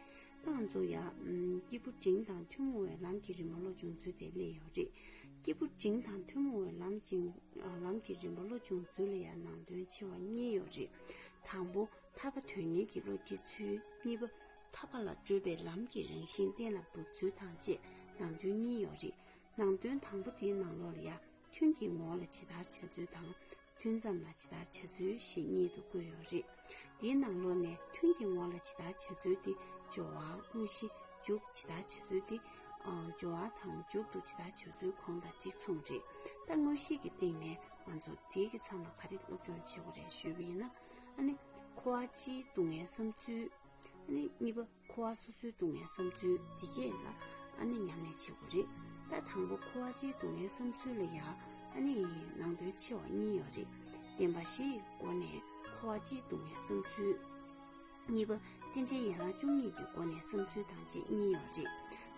S1: ཏང་ཙུའུ་ཡང་སྐྱེས་བུ་འབྲིང་དང་ཐུན་མོང་བའི་ལམ་གྱི་རིམ་པ་བློ་སྦྱོང་ཚུལ་དེ་གླེང་ཡོད་རེད། སྐྱེས་བུ་འབྲིང་དང་ཐུན་མོང་བའི་ལམ་གྱི་རིམ་པ་བློ་སྦྱོང་ཚུལ་ལ་ཡང་ནང་དོན་ཆེ་བ་གཉིས་ཡོད་རེད། དང་པོ་ཐར་པ་དོན་གཉེར་གྱི་བློ་སྐྱེ་ཚུལ། གཉིས་པ། ཐར་པ་ལ་བགྲོད་པའི་ལམ་གྱི་རང་བཞིན་གཏན་ལ་འབེབས་ཚུལ་དང་བཅས་ནང་དོན་གཉིས་ཡོད་རེད། ནང་དོན་དང་པོ་དེའི་ནང་ལོགས་ལ་ཡར་ཐོན་གྱི་ངོ་བོ་ལ་ཇི་ལྟར་བྱ་ཚུལ་དང། ཐུན་མཚམས་ལ་ཇི་ལྟར་བྱ་ཚུལ་ཞེས་གཉིས་དུ་བཀོད་ཡོད་རེད། དེའི་ནང་ལོགས་ནས་ཐུན་གྱི་ངོ་བོ་ལ་ཇི་ལྟར་བྱ་ཚུལ་དེ་སྦྱོར་བ་དངོས་གཞི་འཇུག་ཇི་ལྟར་བྱ་ཚུལ་དེ། སྦྱོར་བ་དང་འཇུག་ཏུ་ཇི་ལྟར་བྱ་ཚུལ་གོང་དང་གཅིག་མཚུངས་རེད། ད་དངོས་གཞི་གི་སྟེང་ནས་ང་ཚོ་བདེ་གི་མཚམས་ལ་ག་རེ་སློབ་སྦྱོང་བྱེད་དགོས་རེད་ཞུས་པ་ཡིན་ན་ཨ་ནི་ཁོ་བ་སྤྱིའི་སྡུག་བསྔལ་བསམ་ཚུལ་ཨ་ནི་གཉིས་པ་ཁོ་བ་སོ་སོའི་སྡུག་བསྔལ་བསམ་ཚུལ་འདི་བཅས་ལ་ཨ་ནི་ཉམས་ལེན་བྱེད་དགོས་རེད་ད་དང་པོ་ཁོ་བ་སྤྱིའི་སྡུག་བསྔལ་བསམ་ཚུལ་ལ་ཡང་ཨ་ནི་ནང་དོན་ཆེ་བ་གཉིས་ཡོད་རེད་བདེན་པ་བཞི་ཡི་སྒོ་ནས་ཁོ་བ་སྤྱིའི་སྡུག་བསྔལ་བསམ་ཚུལ། གཉིས་པ་རྟེན་འབྲེལ་ཡན་ལག་བཅུ་གཉིས་ཀྱི་སྒོ་ནས་བསམ་ཚུལ་དང་བཅས་གཉིས་ཡོད་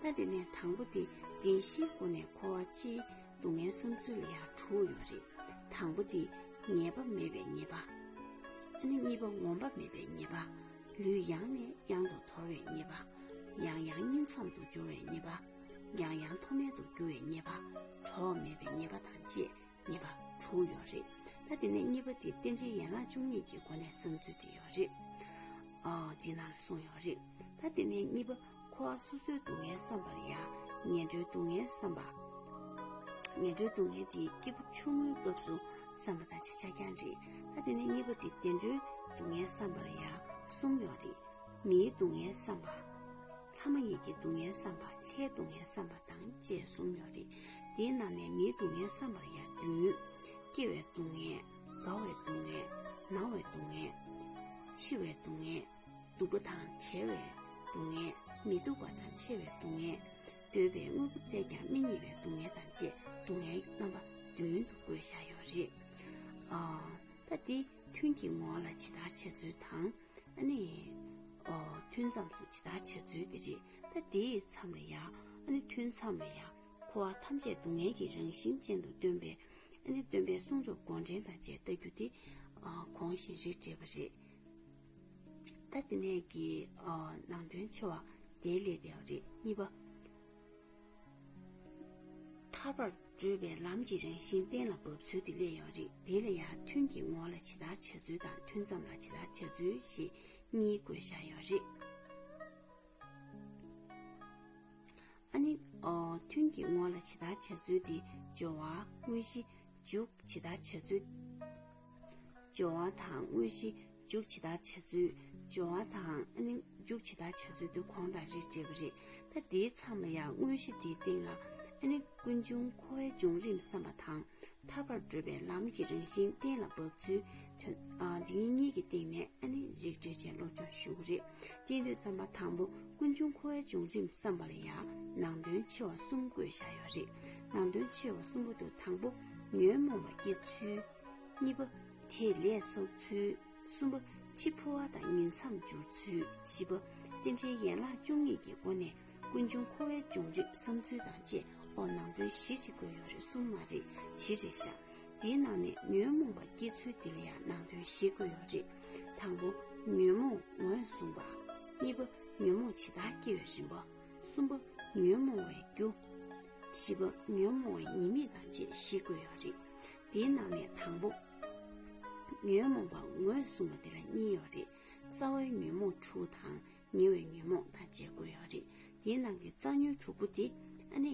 S1: རེད་ད་དེ་ནས་དང་པོ་དེ་བདེན་བཞིའི་སྒོ་ནས་ཁོ་བ་སྤྱིའི། སྡུག་བསྔལ་བསམ་ཚུལ་ལ་ཡང་དྲུག་ཡོད་པ་རེད། དང་པོ་འདི། ངེས་པ་མེད་པའི་ཉེས་པ། ཨ་ནི་གཉིས་པ་ངོམ་པ་མེད་པའི་ཉེས་པ། ལུས་ཡང་ནས་ཡང་དུ་དོར་བའི་ཉེས་པ། ཡང་ཡང་སྙིང་མཚམས་དུ་སྦྱོར་བའི་ཉེས་པ། ཡང་ཡང་མཐོ་དམན་དུ་རྒྱུ་བའི་ཉེས་པ། གྲོགས་མེད་པའི་ཉེས་པ་དང་བཅས་ཉེས་པ་དྲུག་ཡོད་རེད། ད་འདི་ནས་གཉིས་པ་འདི་རྟེན་འབྲེལ་ཡན་ལག་བཅུ་གཉིས་ཀྱི་སྒོ་ནས་བསམ་ཚུལ་འདི་ཡོད་རེད། འདི་ནང་ལ་གསུངས་ཡོད་རེད། ད་འདི་ནས་གཉིས་པ། འཁོར་བ་སོ་སོའི་སྡུག་བསྔལ་བསམ་པར་ཡང་ངན་འགྲོའི་སྡུག་བསྔལ་བསམ་པ། ངན་འགྲོའི་སྡུག་བསྔལ་འདི་སྐྱེས་བུ་ཆུང་ངུའི་སྐབས་སུ་བསམ་པ་དང་ཆེ་ཆགས་ཀྱང་རེད་ད་དེ་ནས་གཉིས་པ་འདི་བདེ་འགྲོའི་སྡུག་བསྔལ་བསམ་པར་ཡང་གསུམ་ཡོད་རེད། མིའི་སྡུག་བསྔལ་བསམ་པ། ལྷ་མ་ཡིན་གྱི་སྡུག་བསྔལ་བསམ་པ་ལྷའི་སྡུག་བསྔལ་བསམ་པ་དང་བཅས་གསུམ་ཡོད་རེད། འདི་རྣམས་ལས་མིའི་སྡུག་བསྔལ་བསམ་པར་ཡང་བདུན། སྐྱེ་བའི་སྡུག་བསྔལ། རྒ་བའི་སྡུག་བསྔལ། ན་བའི་སྡུག་བསྔལ། འཆི་བའི་སྡུག་བསྔལ། སྡུག་པ་དང་བྲལ་བའི་སྡུག་བསྔལ། མི་སྡུག་པ་དང་ཆེ་བའི་སྡུག་བསྔལ། འདོད་པའི་དངོས་པོ་བཙལ་ཀྱང་མི་རྙེད་པའི་སྡུག་བསྔལ་དང་བཅས་སྡུག་བསྔལ་གྱི་རྣམ་པ་བདུན་དུ་བགོས་བཞག་ཡོད་རེད། ཨ། ད་འདི་ཐུན་གྱི་ངོ་བོ་ལ་ཇི་ལྟར་འཆད་ཚུལ་དང། ཨ་ནི། ཨོ། ཐུན་མཚམས་སུ་ཇི་ལྟར་འཆད་ཚུལ་འདི་རེད། ད་འདིའི་མཚམས་ལ་ཡང། ཨ་ནི་ཐུན་མཚམས་ལ་ཡང། འཁོར་བ་ཐམས་ཅད་སྡུག་བསྔལ་གྱི་རང་བཞིན་ཅན་དུ་སྟོན་པའི། ཨ་ནི་སྟོན་པའི་གསུང་རབ་མགོ་འདྲེན་དང་བཅས་བལྟ་རྒྱུ་དེ། གོང་བཞིན་རིགས་འགྲེ་བ་རེད། ཐ་དེ་ནས་ཀྱི་ནང་དོན་ཆེ་བ་དེའི་སླད་དུ་ཡང་རེད། གཉིས་པ། ཐར་པར་བགྲོད་པའི་ལམ་གྱི་རང་བཞིན་གཏན་ལ་དབབ་ཚུལ་དེ་སླད་ཡང་རེད། དེ་ལ་ཡང་ཐུན་གྱི་ངོ་ལ་ཇི་ལྟར་བྱ་ཚུལ་དང་ཐུན་མཚམས་ལ་ཇི་ལྟར་བྱ་ཚུལ་ཞེས་གཉིས་དགོས་བཞག་ཡོད་རེད། ཨ་ནི། ཐུན་གྱི་ངོ་ལ་ཇི་ལྟར་བྱ་ཚུལ་དེ་སྦྱོར་བ་དངོས་གཞི་འཇུག་ཇི་ལྟར་བྱ་ཚུལ། སྦྱོར་བ་དང་དངོས་གཞི་འཇུག་བྱེད་དག་བྱ་ཚུལ་སྦྱོར་བ་དང་ཨ་ནི་འཇུག་བྱེད་དག་བྱ་ཚུལ་དུ་གོང་དང་རིགས་འདྲེས་པ་རེད་ད་འདིའི་མཚམས་ལ་ཡང་དངོས་གཞི་འདིའི་སྟེང་ལ་ཨ་ནི་ཀུན་འབྱུང་འཁོར་བའི་འབྱུང་རིམ་བསམ་པ་དང་ཐར་པར་བགྲོད་པའི་ལམ་གྱི་རང་བཞིན་གཏན་ལ་དབབ་ཚུལ་དོན་དེ་གཉིས་ཀྱི་སྟེང་ནས་ཨ་ནི་རིགས་འགྲེ་བྱས་སློབ་སྦྱོང་ཞུ་གི་རེད་དེ་དུས་བརྩམས་པ་དང་པོ་ཀུན་འབྱུང་འཁོར་བའི་འབྱུང་རིམ་བསམ་པ་ལ་ཡང་ནང་དོན་ཆེ་བ་གསུམ་བཀོད་བཞག་ཡོད་རེད་ནང་དོན་ཆེ་བ་གསུམ་པོ་དུ་དང་པོ་ཉོན་མོངས་པ་སྐྱེ་ཚུལ། གཉིས་པ། དེ་ལས་སོགས་ཚུལ། གསུམ་པ། འཆི་འཕོ་བ་དང་ཉིང་མཚམས་སྦྱོར་ཚུལ། བཞི་པ། རྟེན་འབྲེལ་ཡན་ལག་བཅུ་གཉིས་ཀྱི་སྒོ་ནས་ཀུན་འབྱུང་འཁོར་བའི་འབྱུང་རིམ་བསམ་ཚུལ་དང་བཅས་འོག་ནང་དོན་གཞི་གཅིག་བཀོད་ཡོད་རེ་གསུམ་མ་རེ་བཞི་རེ་བཞག་དེའི་ནང་ནས་ཉོན་མོངས་པ་སྐྱེ་ཚུལ་འདི་ལ་ཡང་ནང་དོན་བཞི་བཀོད་ཡོད་རེད། དང་པོ། ཉོན་མོངས་ངོས་བཟུང་བ། གཉིས་པ། ཉོན་མོངས་ཇི་ལྟར་སྐྱེ་བའི་རིམ་པ། གསུམ་པ། ཉོན་མོངས་བའི་རྒྱུ། བཞི་པ་ཉོན་མོངས་བའི་ཉེས་དམིགས་དང་བཅས་བཞི་བཀོད་ཡོད་རེད། དེའི་ནང་ནས་དང་པོ། ཉོན་མོངས་པ་ངོས་བཟུང་བ་དེ་ལ་གཉིས་ཡོད་རེད། རྩ་བའི་ཉོན་མོངས་དྲུག་དང་ཉེ་བའི་ཉོན་མོངས་དང་བཅས་བཀོད་ཡོད་རེད། དེའི་ནང་གི་རྩ་ཉོན་དྲུག་པོ་དེ་ཨ་ནི།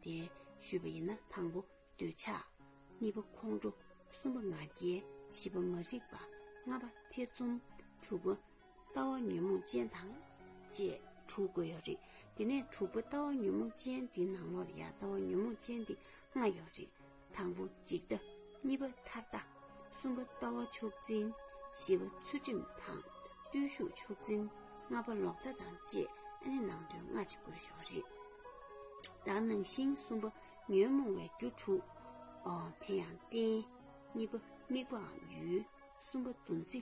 S1: དེ་ཞུས་པ་ཡིན་ན་དང་པོ་འདོད་ཆགས། གཉིས་པ་ཁོང་ཁྲོ། གསུམ་པ་ང་རྒྱལ། བཞི་པ་མ་རིག་པ། ལྔ་པ་ཐེ་ཚོམ། དྲུག་པ་ལྟ་བ་ཉོན་མོངས་ཅན་དང་བཅས་དྲུག་དགོས་ཡོད་རེད། དེ་ནས་དྲུག་པོ་ལྟ་བ་ཉོན་མོངས་ཅན་འདི་ནང་ལོགས་ཡ་ལྟ་བ་ཉོན་མོངས་ཅན་འདི་ལྔ་ཡོད་རེད། དང་པོ་འཇིག་ལྟ། གཉིས་པ་མཐར་ལྟ། གསུམ་པ་ལྟ་བ་ཕྱོགས་འཛིན། བཞི་པ་ཚུལ་ཁྲིམས་དང་བརྟུལ་ཞུགས་ཕྱོགས་འཛིན། ལྔ་པ་ལོག་ལྟ་དང་བཅས་ཨ་ནི་ནང་དོན་སྔ་ཕྱི་དགོས་ཞོག་རེད། བདག་སྣང་བཞིན་གསུམ་པ་ཉོན་མོངས་བའི་རྒྱུ་དྲུག། དེ་ཡང་རྟེན། གཉིས་པ་དམིགས་པའམ་ཡུལ། གསུམ་པ་འདུ་འཛི།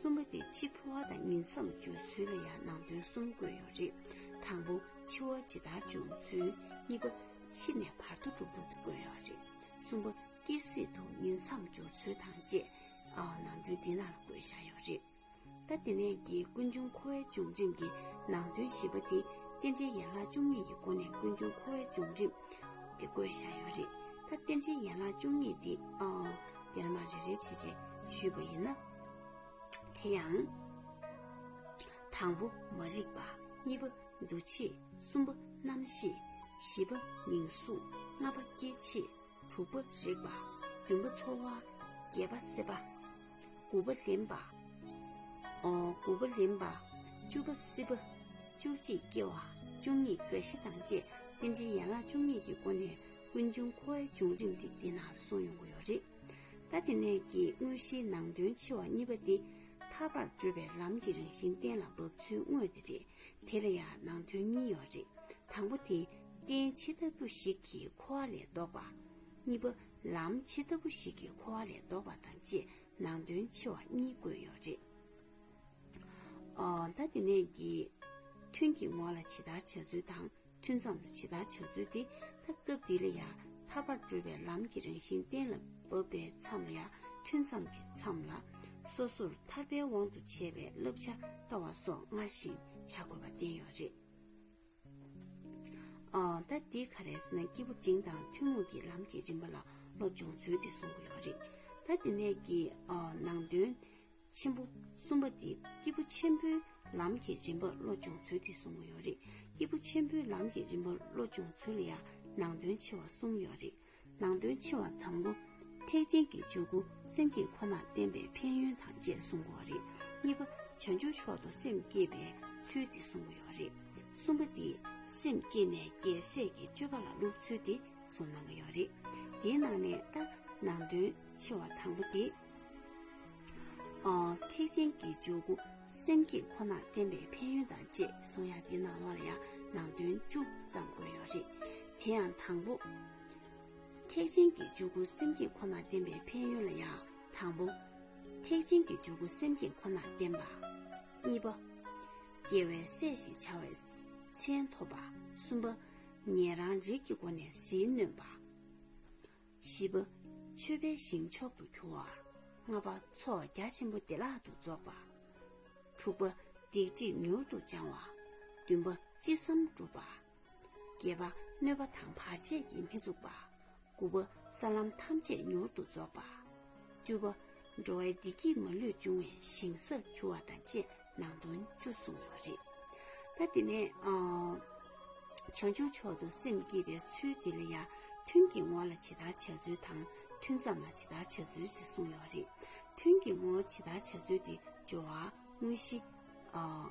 S1: གསུམ་པ་དེ་འཆི་འཕོ་བ་དང་ཉིང་མཚམས་འཇོག་ཚུལ་ལ་ཡང་ནང་དོན་གསུམ་བཀོད་ཡོད་རེད། དང་པོ། འཆི་བ་ཇི་ལྟར་འབྱུང་ཚུལ། གཉིས་པ། འཆི་ནས་བར་དོ་གྲུབ་ཐོབ་དང་བཀོད་ཡོད་རེད། གསུམ་པ། སྐྱེ་སྲིད་དུ་ཉིང་མཚམས་འཇོག་ཚུལ་དང་བཅས་ནང་དོན་འདི་ནང་ལ་བཀོད་བཞག་ཡོད་རེད། ད་དེ་ནས་ཀྱི་ཀུན་འབྱུང་འཁོར་བའི་འབྱུང་རིམ་གྱི་ནང་དོན་བཞི་པ་དེ་རྟེན་འབྲེལ་ཡན་ལག་བཅུ་གཉིས་ཀྱི་སྒོ་ནས་ཀུན་འབྱུང་འཁོར་བའི་འབྱུང་རིམ་དེ་བཀོད་བཞག་ཡོད་རེད། ད་རྟེན་འབྲེལ་ཡན་ལག་བཅུ་གཉིས་དེ། ཡང་ན་རེ་རེ་བྱས་བྱས་ཞུས་པ་ཡིན་ན་དེ་ཡང་དང་པོ་མ་རིག་པ་གཉིས་པ་འདུ་བྱེད་གསུམ་པ་རྣམ་ཤེས་བཞི་པ་མིང་གཟུགས་ལྔ་པ་སྐྱེ་མཆེད་དྲུག་པ་རེག་པ་བདུན་པ་ཚོར་བ་བརྒྱད་པ་སྲེད་པ་དགུ་པ་ལེན་པ་དགུ་པ་ལེན་པ་བཅུ་པ་སྲིད་པ་བཅུ་གཅིག་སྐྱེ་བ་བཅུ་གཉིས་རྒ་ཤི་དང་བཅས་རྟེན་འབྲེལ་ཡན་ལག་བཅུ་གཉིས་ཀྱི་སྒོ་ནས་ཀུན་འབྱུང་ཁོ་ཨའི་བྱུང་རིམ་དེ་འདི་ན་གསུངས་ཡོང་གི་ཡོད་རེད། ད་དེ་ནས་ཀྱི་དངོས་གཞིའི་ནང་དོན་ཆེ་བ་གཉིས་པ་དེ། ཐར་པར་བགྲོད་པའི་ལམ་གྱི་རང་བཞིན་གཏན་ལ་དབབ་ཚུལ་དངོས་དེ་རེད། དེ་ལ་ཡང་ནང་དོན་གཉིས་ཡོད་རེད། དང་པོ་དེ། རྟེན་ཇི་ལྟ་བུ་ཞིག་གིས་འཁོར་བ་ལས་བཟློག་པ། གཉིས་པ། ལམ་ཇི་ལྟ་བུ་ཞིག་གིས་འཁོར་བ་ལས་བཟློག་པ་དང་བཅས་ནང་དོན་ཆེ་བ་གཉིས་བཀོད་ཡོད་རེད། ཨོ། ད་དེ་ནས་ཀྱི། ཐུན་གྱི་ངོ་ལ་ཇི་ལྟར་བྱ་ཚུལ་དང། ཐུན་མཚམས་ལ་ཇི་ལྟར་བྱ་ཚུལ་འདི་ལྟ་སྐབས་འདི་ལ་ཡང་ཐར་པར་བགྲོད་པའི་ལམ་གྱི་རང་བཞིན་གཏན་ལ་དབབ་པའི་མཚམས་ལ་ཡང་ཐུན་མཚམས་ཀྱི་མཚམས་ལ། སོ་སོར་ཐར་པའི་དབང་དུ་བྱས་པའི་བསླབ་བྱ་ལྟ་བ་སོགས་སྔར་བཞིན་བྱ་དགོས་པ་བསྟན་ཡོད་རེད། ད་འདི་ག་རེས་ན་སྐྱེས་བུ་འབྲིང་དང་ཐུན་མོང་གི་ལམ་གྱི་རིམ་པ་ལ་བློ་སྦྱོང་ཚུལ་དེ་གསུང་གི་ཡོད་རེད། ད་འདི་ནས་ཀྱི་ནང་དོན་ཆེན་པོ་གསུམ་པ་འདི་སྐྱེས་བུ་ཆེན་པོའི་ལམ་གྱི་རིམ་པར་བློ་སྦྱོང་ཚུལ་དེ་གསུམ་མོ་ཡོད་རེད་སྐྱེས་བུ་ཆེན་པོའི་ལམ་གྱི་རིམ་པར་བློ་སྦྱོང་ཚུལ་ལ་ཡང་ནང་དོན་ཆེ་བ་གསུམ་ཡོད་རེད་ནང་དོན་ཆེ་བ་དང་པོ། ཐེག་ཆེན་གྱི་འཇུག་སྒོ་སེམས་བསྐྱེད་ཁོ་ན་བསྟན་པའི་ཕན་ཡོན་དང་བཅས་གསུང་གོ་རེད་གཉིས་པ། བྱང་ཆུབ་མཆོག་ཏུ་སེམས་བསྐྱེད་པའི་ཚུལ་དེ་གསུང་གོ་ཡོད་རེད་གསུམ་པ་འདི་སེམས་བསྐྱེད་ནས་རྒྱལ་སྲས་ཀྱི་སྤྱོད་པ་ལ་བསླུབ་ཚུལ་དེ་གསུང་གནང་གི་ཡོད་རེད་དེའི་ནང་ནས་ཏག་ནང་དོན་ཆེ་བ་དང་པོ་དེ། ཐེག་ཆེན་གྱི་འཇུག་སྒོ་སེམས་བསྐྱེད་ཁོ་ན་བསྟན་པའི་ཕན་ཡོན་དང་བཅས་གསུང་ཡ་འདི་ནང་བར་ཡང་ནང་དོན་བཅུ་ཙམ་བཀོད་ཡོད་རེད། དེ་ཡང་དང་པོ། ཐེག་ཆེན་གྱི་འཇུག་སྒོ་སེམས་བསྐྱེད་ཁོ་ན་བསྟན་པའི་ཕན་ཡོན་ལ་ཡང་དང་པོ། ཐེག་ཆེན་གྱི་འཇུག་སྒོ་སེམས་བསྐྱེད་ཁོ་ན་བསྟན་པ། གཉིས་པ། རྒྱལ་བའི་སྲས་ཞེས་བྱ་བའི་མཚན་ཐོབ་པ། གསུམ་པ། ཉན་རང་རིག་གི་སྒོ་ནས་ཟིལ་གནོན་པ། བཞི་པ། མཆོད་པའི་ཞིང་མཆོག་ཏུ་གྱུར་བ། ལྔ་པ། ཚོགས་རྒྱ་ཆེན་པོ་བདེ་བླག་ཏུ་རྫོགས་པ། དྲུག་པ། སྡིག་སྒྲིབ་མྱུར་དུ་སྦྱང་བ། བདུན་པ། ཅི་བསམ་འགྲུབ་པ། བརྒྱད་པ། གནོད་པ་དང་བར་ཆད་ཀྱིས་མི་ཚུགས་པ། དགུ་པ། ས་ལམ་ཐམས་ཅད་མྱུར་དུ་རྫོགས་པ། བཅུ་པ། འགྲོ་བའི་བདེ་སྐྱིད་མ་ལུས་འབྱུང་བའི་ཞིང་སར་གྱུར་བ་དང་བཅས་ནང་དོན་བཅུ་གསུངས་པ་རེད། ད་དེ་ནས་བྱང་ཆུབ་མཆོག་ཏུ་སེམས་བསྐྱེད་པའི་ཚུལ་འདི་ལ་ཡང་ཐུན་གྱི་ངོ་ལ་ཇི་ལྟར་བྱ་ཚུལ་དང་ཐུན་མཚམས་ལ་ཇི་ལྟར་བྱ་ཚུལ་ཞེས་གསུངས་ཡོད་རེད། ཐུན་གྱི་ངོ་ཇི་ལྟར་བྱ་ཚུལ་དེ་སྦྱོར་བ་དངོས་གཞི།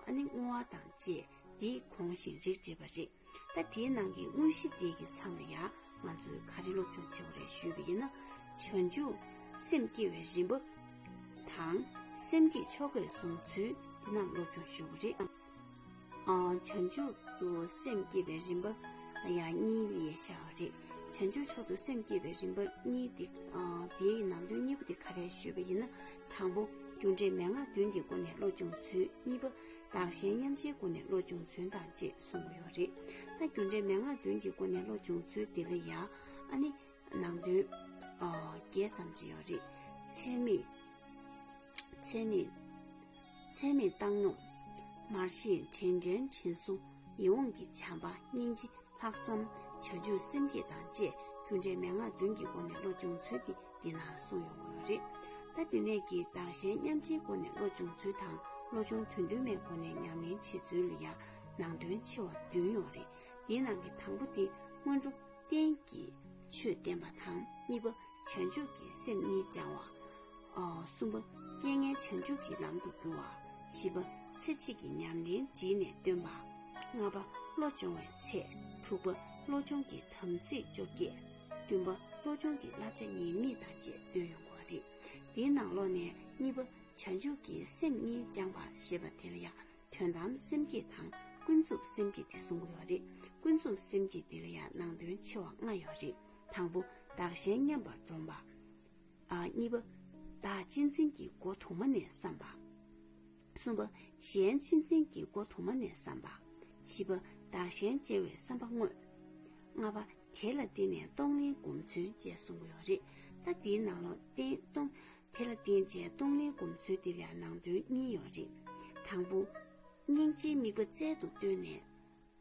S1: ཨ་ནི་བསྔོ་བ་དང་བཅས་འདིས་གོང་བཞིན་རིགས་བསྒྲེས་པ་རེད། ད་དེའི་ནང་གི་དངོས་གཞི་འདི་གི་མཚམས་ལ་ཡང་ང་ཚོས་ག་རེ་ལུགས་ཙམ་བྱེད་དགོས་རེད་ཞུས་པ་ཡིན་ན། བྱང་ཆུབ་སེམས་སྐྱེ་བའི་རིམ་པ། དང། སེམས་ཀྱི་ཆོ་གས་བཟུང་ཚུལ་འདི་རྣམས་སློབ་སྦྱོང་ཞུ་དགོས་རེད། བྱང་ཆུབ་ཏུ་སེམས་སྐྱེ་བའི་རིམ་པ་ཡང་གཉིས་ལས་བྱ་བ་རེད། བྱང་ཆུབ་མཆོག་ཏུ་སེམས་སྐྱེ་བའི་རིམ་པ་གཉིས་འདི། དེའི་ནང་དོན་གཉིས་པོ་དེ་ག་རེ་ཞུས་པ་ཡིན་ན། དང་པོ། རྒྱུ་འབྲས་མན་ངག་བདུན་གྱི་སྒོ་ནས་བློ་སྦྱོང་ཚུལ་གཉིས་པ། བདག་གཞན་མཉམ་བརྗེའི་སྒོ་ནས་བློ་སྦྱོང་ཚུལ་དང་བཅས་གསུངས་ཀྱི་ཡོད་རེད། ད་རྒྱུ་འབྲས་མན་ངག་བདུན་གྱི་སྒོ་ནས་བློ་སྦྱོང་ཚུལ་འདི་ལ་ཡང་ཨ་ནི་ནང་དོན་བརྒྱད་ཙམ་ཅིག་ཡོད་རེད། ཚད་མེད། ཚད་མེད། ཚད་མེད་བཏང་སྙོམས། མར་ཤེས་དྲན་དྲན་དྲན་གསོ། ཡིད་འོང་གི་བྱམས་པ་སྙིང་རྗེ་ལྷག་བསམ། བྱ་སྤྱོད་སེམས་བསྐྱེད་དང་བཅས་རྒྱུ་འབྲས་མན་ངག་བདུན་གྱི་སྒོ་ནས་བློ་སྦྱོང་ཚུལ་འདི་འདི་ན་གསུངས་ཡོང་གི་ཡོད་རེད། ད་འདི་ནས་ཀྱི་བདག་གཞན་མཉམ་བརྗེའི་སྒོ་ནས་བློ་སྦྱོང་ཚུལ་དང་བློ་སྦྱོང་དོན་བདུན་མའི་སྒོ་ནས་ཉམས་ལེན་བྱེད་ཚུལ་ལ་ཡང་ནང་དོན་ཆེ་བ་བདུན་ཡོད་རེད་དེའི་ནང་གི་དང་པོ་དེ་སྔོན་འགྲོ་བསྟན་གྱི་ཆོས་བསྟན་པ་དང་གཉིས་པ་བྱང་ཆུབ་ཀྱི་སེམས་གཉིས་སྦྱང་བ། གསུམ་པ་རྐྱེན་ངན་བྱང་ཆུབ་ཀྱི་ལམ་དུ་བསྒྱུར་བ། བཞི་པ་ཚེ་གཅིག་གི་ཉམས་ལེན་བྲིས་ནས་སྟོན་པ། ལྔ་པ་བློ་སྦྱོང་བའི་ཚེ། དྲུག་པ་བློ་སྦྱོང་གི་དམ་ཚིག་བཅོ་བརྒྱད། བདུན་པ་བློ་སྦྱོང་གི་བསླབ་བྱ་ཉེས་དམིགས་དང་བཅས་བཏོན་ཡོང་བ་རེད། འདིའི་ནང་ལོགས་ནས་གཉིས་པ་བྱང་ཆུབ་ཀྱི་སེམས་གཉིས་སྦྱང་བ་ཞེས་པ་དེར་ཡང་དོན་དམ་སེམས་བསྐྱེད་དང་ཀུན་རྫོབ་སེམས་བསྐྱེད་དེ་གསུམ་ཡོད་རེད། ཀུན་རྫོབ་སེམས་བསྐྱེད་འདི་ལ་ཡང་ནང་དོན་ཆེ་བ་ལྔ་ཡོད་རེད། དང་པོ། བདག་གཞན་མཉམ་པར་བསྒྲོམ་པ། གཉིས་པ། བདག་སྤྱི་མཚན་གྱི་སྒོ་དུ་མ་ནས་བསམ་པ། གསུམ་པ། གཞན་སྤྱི་མཚན་གྱི་སྒོ་དུ་མ་ནས་བསམ་པ། བཞི་པ། བདག་གཞན་བཅད་བའི་བསམ་པ་དངོས། ལྔ་པ། དེ་ལ་བརྟེན་ནས་གཏོང་ལེན་སྒོམ་མཚོན་བཅས་གསུམ་ཡོད་རེད། ད་འདིའི་ནང་ལོག་བརྟེན་གཏོང། དེ་ལ་བརྟེན་བཅས་གཏོང་ལེན་སྒོམ་ཚུལ་འདི་ལ་ནང་དོན་གཉིས་ཡོད་རེད། དང་པོ། སྙིང་རྗེའི་དམིགས་པ་རྩལ་དུ་བཏོན་ནས།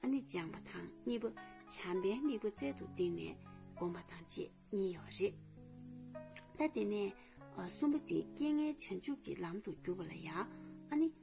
S1: ཨ་ནི་སྦྱངས་པ་དང་གཉིས་པ། བྱམས་པའི་དམིགས་པ་རྩལ་དུ་བཏིང་ནས་སྒོམ་པ་དང་བཅས་གཉིས་ཡོད་རེད། ད་དེ་ནས། གསུམ་པ་འདི་རྐྱེན་ངན་བྱང་ཆུབ་ཀྱི་ལམ་དུ་གྱུར་པ་ལ་ཡང། ཨ་ནི།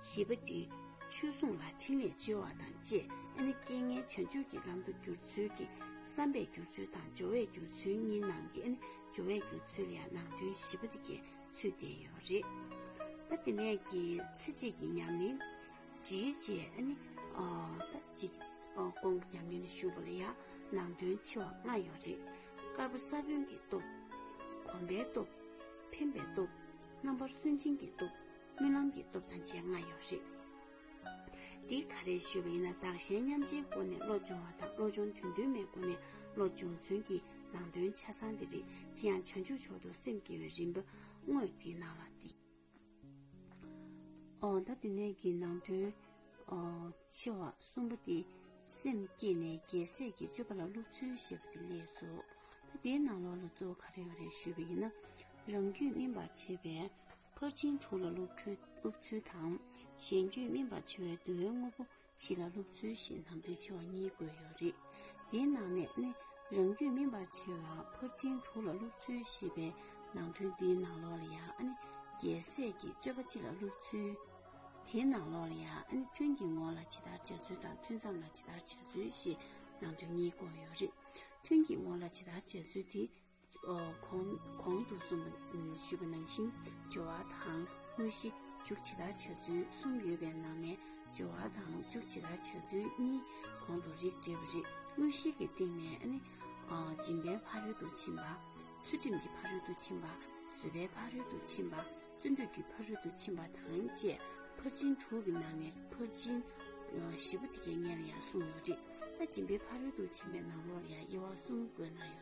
S1: བཞི་པ་འདི་ཆོས་སྲུང་ལ་ཕྲིན་ལས་བཅོལ་བ་དང་བཅས་ཨ་ནི་རྐྱེན་ངན་བྱང་ཆུབ་ཀྱི་ལམ་དུ་བསྒྱུར་ཚུལ་གྱི་བསམ་པས་བསྒྱུར་ཚུལ་དང་སྦྱོར་བས་བསྒྱུར་ཚུལ་གཉིས་ནང་གི་ཨ་ནི་སྦྱོར་བས་བསྒྱུར་ཚུལ་ཡང་ནང་དོན་བཞི་པ་འདི་གའི་ཚུལ་བསྟན་ཡོད་རེད། ད་དེ་ནས་ཀྱི་ཚེ་རྗེས་ཀྱི་ཉམས་ལེན། ཇི་བྱས་ཨ་ནི། ད་ཅི། དགོངས་ཀྱི་ཉམས་ལེན་ལ་ཞུགས་པ་ལ་ཡང་ནང་དོན་ཆེ་བ་ལྔ་ཡོད་རེད། དཀར་པོ་ས་བོན་གྱི་སྟོབས། གོམས་པའི་སྟོབས། འཕེན་པའི་སྟོབས། རྣམ་པར་སུན་འབྱིན་གྱི་སྟོབས། རྨི་ལམ་གྱི་སྟོབས་དང་བཅས་ང་ཡོད་རེད། འདི་ག་རེ་ཞུས་པ་ཡིན་ན་བདག་གཞན་མཉམ་བརྗེའི་སྒོ་ནས་བློ་སྦྱོང་བ་དང་བློ་སྦྱོང་དོན་བདུན་མའི་སྒོ་ནས་བློ་སྦྱོང་ཚུན་གྱི་ནང་དོན་ཆ་ཚང་འདི་རེད་དེ་ཡང་བྱང་ཆུབ་མཆོག་ཏུ་སེམས་བསྐྱེད་པའི་རིམ་པ་དངོས་འདི་གནང་བ་འདི། འོ་ད་འདི་ནས་ཀྱི་ནང་དོན། ཆེ་བ་གསུམ་པོ་འདི། སེམས་བསྐྱེད་ནས་རྒྱལ་སྲས་ཀྱི་སྤྱོད་པ་ལ་སློབ་ཚུལ་ཞེས་པ་འདི་ལས་སོ། ད་འདིའི་ནང་ལོགས་ལ་གཙོ་བོ་ག་རེ་ཡོད་རེ་ཞུས་པ་ཡིན་ན། རང་རྒྱུད་སྨིན་པར་བྱེད་པའི། ཕར་ཕྱིན་དྲུག་ལ་སློབ་ཚུལ་དང། གཞན་རྒྱུད་སྨིན་པར་བྱེད་པའི་བསྡུ་བའི་དངོས་པོ་བཞི་ལ་སློབ་ཚུལ་བཞིན་དང་དོན་ཆེ་བ་གཉིས་བཀོད་ཡོད་རེད། འདིའི་ནང་ནས་ནི་རང་རྒྱུད་སྨིན་པར་བྱེད་པ་ཕར་ཕྱིན་དྲུག་ལ་སློབ་ཚུལ་ཞེས་པའི་ནང་དོན་འདིའི་ནང་ལོགས་ལ་ཡང་ནི་རྒྱལ་སྲས་ཀྱི་སྤྱོད་པ་སྤྱི་ལ་སློབ་ཚུལ། དེའི་ནང་ལོགས་ལ་ཡང་ནི་ཐུན་གྱི་ངོ་ལ་ཇི་ལྟར་བྱ་ཚུལ་དང་ཐུན་མཚམས་ལ་ཇི་ལྟར་བྱ་ཚུལ་ཞེས་ནང་དོན་གཉིས་བཀོད་ཡོད་རེད། ཐུན་གྱི་ངོ་ལ་ཇི་ལྟར་བྱ་ཚུལ་དེ་གོང་དུ་གསུངས་པ་ཞུས་པ་ནང་བཞིན་སྦྱོར་བ་དང་དངོས་གཞི་མཇུག་ཇི་ལྟར་བྱ་ཚུལ་གསུམ་ཡོད་པའི་ནང་ནས་སྦྱོར་བ་དང་མཇུག་ཇི་ལྟར་བྱ་ཚུལ་གཉིས་གོང་དུ་རིགས་འགྲེ་བ་རེད། དངོས་གཞིའི་གི་སྟེང་ནས་ནི། སྦྱིན་པའི་ཕ་རོལ་ཏུ་ཕྱིན་པ། ཚུལ་ཁྲིམས་ཀྱི་ཕ་རོལ་ཏུ་ཕྱིན་པ། བཟོད་པའི་ཕ་རོལ་ཏུ་ཕྱིན་པ། བརྩོན་འགྲུས་ཀྱི་ཕ་རོལ་ཏུ་ཕྱིན་པ་དང་བཅས་ཕར་ཕྱིན་དྲུག་གི་ནང་ནས་ཕར་ཕྱིན་བཞི་པོ་དེ་སྐད་ངན་ལ་ཡང་གསུངས་ཡོད་རེད། ད་སྦྱིན་པའི་ཕ་རོལ་ཏུ་ཕྱིན་པའི་ནང་ལོགས་ལ་ཡང་དབྱེ་བ་གསུམ་བཀོད་གནང་ཡོད།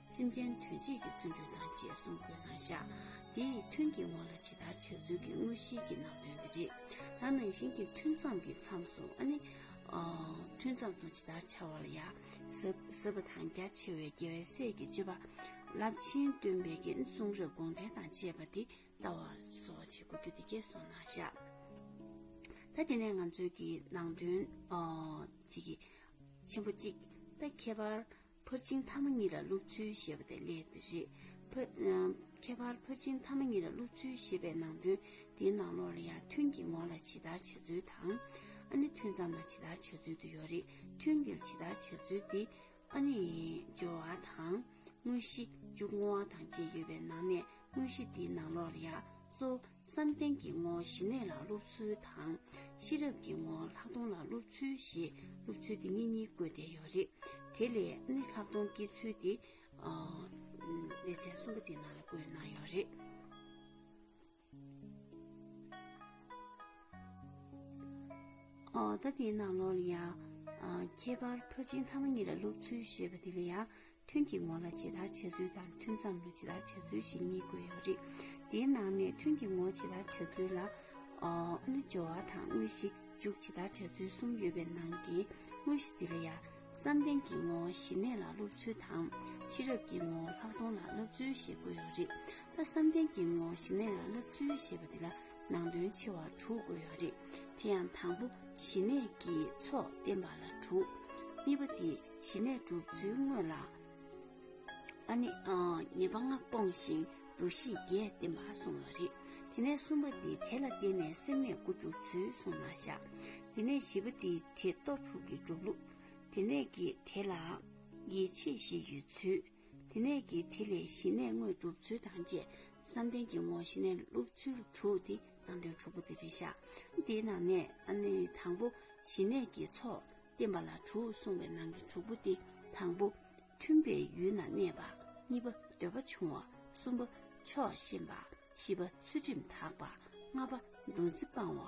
S1: སེམས་ཅན་དོན་བྱེད་ཀྱི་བརྩོན་འགྲུས་དང་བཅས་གསུང་དགོས་སྣང་ཤ། འདི་ཡི་ཐུན་གྱི་དབང་ལ་ཇི་ལྟར་བྱ་ཚུལ་གྱི་དངོས་གཞིའི་གྱི་ནང་དོན་འདི་རེད། ད་ནང་བཞིན་གྱི་ཐུན་མཚམས་ཀྱི་མཚམས་སུ་ཨ་ནི། ཐུན་མཚམས་སུ་ཇི་ལྟར་བྱ་བ་ལ་ཡ། ཟབ་པ་དང་རྒྱ་ཆེ་བའི་རྒྱལ་བའི་སྲས་ཀྱི་སྤྱོད་པ། རླབས་ཆེན་སྟོན་པའི་རྒྱན་གསུང་རབ་དགོངས་འགྲེལ་དང་བཅས་པ་འདི་ལྟ་བ་སོགས་བྱེད་དགོས་རྒྱུ་འདི་སྐད་གསུང་སྣང་ཤ། ད་དེ་ནས་ང་ཚོས་ཀྱི་ནང་དོན། ཆེན་པོ་གཅིག། ད་ཁྱད་པར་ཕར་ཕྱིན་ཐ་མ་གཉིས་ལ་སློབ་ཚུལ་ཞེས་པ་དེ་ལས་དེ་རེད། ཁྱད་པར་ཕར་ཕྱིན་ཐ་མ་གཉིས་ལ་སློབ་ཚུལ་ཞེས་པའི་ནང་དོན་དེའི་ནང་ལོགས་ལ་ཡང་ཐུན་གྱི་ངོ་ལ་ཇི་ལྟར་བྱ་ཚུལ་དང། ཨ་ནེ་ཐུན་ཙམ་ལ་ཇི་ལྟར་བྱ་ཚུལ་དུ་ཡོད་རེད་ཐུན་འདིར་ཇི་ལྟར་བྱ་ཚུལ་འདི་ཨ་ནེ། སྦྱོར་བ་དང། དངོས་གཞི། འཇུག་ངོ་བ་དང་བཅས་ཡོད་པའི་ནང་ནས་དངོས་གཞི་འདིའི་ནང་ལོགས་ལ་ཡང་གཙོ། བསམ་གཏན་གྱི་ངོ་བོ་ཞི་གནས་ལ་སློབ་ཚུལ་དང། ཤེས་རབ་ཀྱི་ངོ་བོ་ལྷག་མཐོང་ལ་སློབ་ཚུལ་ཞེས་སློབ་ཚུལ་འདི་གཉིས་གཉིས་བཀོད་བསྡད་ཡོད་རེད། དེ་ལས་ནི་ལྷག་མཐོང་སྐྱེ་ཚུལ་འདི། ལེ་ཚན་གསུམ་པ་འདིའི་ནང་ལ་བཀོད་གནང་ཡོད་རེད། ད་འདིའི་ནང་ལོར་ཡང། ཁྱད་པར་ཕོ་སྤྱིན་ཐ་མ་གཉིས་ལ་སློབ་ཚུལ་ཞེས་པ་འདི་ལ་ཡང། ཐུན་གྱི་ངོ་ལ་ཇི་ལྟར་བྱ་ཚུལ་དང་ཐུན་མཚམས་ལ་ཇི་ལྟར་བྱ་ཚུལ་ཞེས་གཉིས་བཀོད་ཡོད་རེད། དེའི་ནང་ནས་ཐུན་གྱི་ངོ་ཇི་ལྟར་བྱ་ཚུལ་ལ། ཨ་ནུ་སྦྱོར་བ་དང་དངོས་གཞི་འཇུག་ཇི་ལྟར་བྱ་ཚུལ་གསུམ་ཡོད་པའི་ནང་གི་དངོས་གཞི་འདི་ལ་ཡང། བསམ་གཏན་གྱི་ངོ་ཞི་གནས་ལ་སློབ་ཚུལ་དང། ཕྱི་རབས་ཀྱི་ངོ་ལྷག་མཐོང་ལ་སློབ་ཚུལ་ཞེས་བཀོད་ཡོད་རེད། ད་བསམ་གཏན་གྱི་ངོ་ཞི་གནས་ལ་སློབ་ཚུལ་ཞེས་པ་འདི་ལ་ནང་དོན་ཆེ་བ་དྲུག་བཀོད་ཡོད་རེད། དེ་ཡང་དང་པོ་ཞི་གནས་ཀྱི་ཚོགས་བསྟན་པ་ལ་དྲུག། གཉིས་པ་དེ། ཞི་གནས་བསྒྲུབ་ཚུལ་དངོས་ལ། ཨ་ནི། ཉེས་པ་ལྔ་སྤོང་ཞིང་འདུ་ཤེས་བརྒྱད་བསྟེན་པར་གསུངས་པ་རེད། དེ་ནས་གསུམ་པ་འདི་དེ་ལ་བརྟེན་ནས་སེམས་གནས་དགུ་འགྲུབ་ཚུལ་གསུངས་ན་བཞག། དེ་ནས་བཞི་པ་འདི་དེ་སྟོབས་དྲུག་གི་སྒྲུབ་ལུགས། དེ་ནས་ཀྱི་དེ་ལ། ཡིད་ཆེས་བཞི་ཡོད་ཚུལ། དེ་ནས་ཀྱི་དེ་ལས་ཞི་གནས་དངོས་བསྒྲུབ་ཚུལ་དང་བཅས་བསམ་གཏན་གྱི་ངོར་ཞི་གནས་སློབ་ཚུལ་དྲུག་སྟེ་ནང་དོན་དྲུག་པོ་འདི་རེ་བཞག། འདིའི་ནང་ནས་ཨ་ནི་དང་པོ་ཞི་གནས་ཀྱི་ཚོགས། བསྟན་པ་ལ་དྲུག་གསུངས་པའི་ནང་གི་དྲུག་པོ་སྟེ་དང་པོ། མཐུན་པའི་ཡུལ་ན་གནས་པ། གཉིས་པ། འདོད་པ་ཆུང་བ། གསུམ་པ། ཕྱོགས་ཞེན་པ། བཞི་པ། ཚུལ་ཁྲིམས་དག་པ། ལྔ་པ། འདུ་འཛི་སྤང་བ།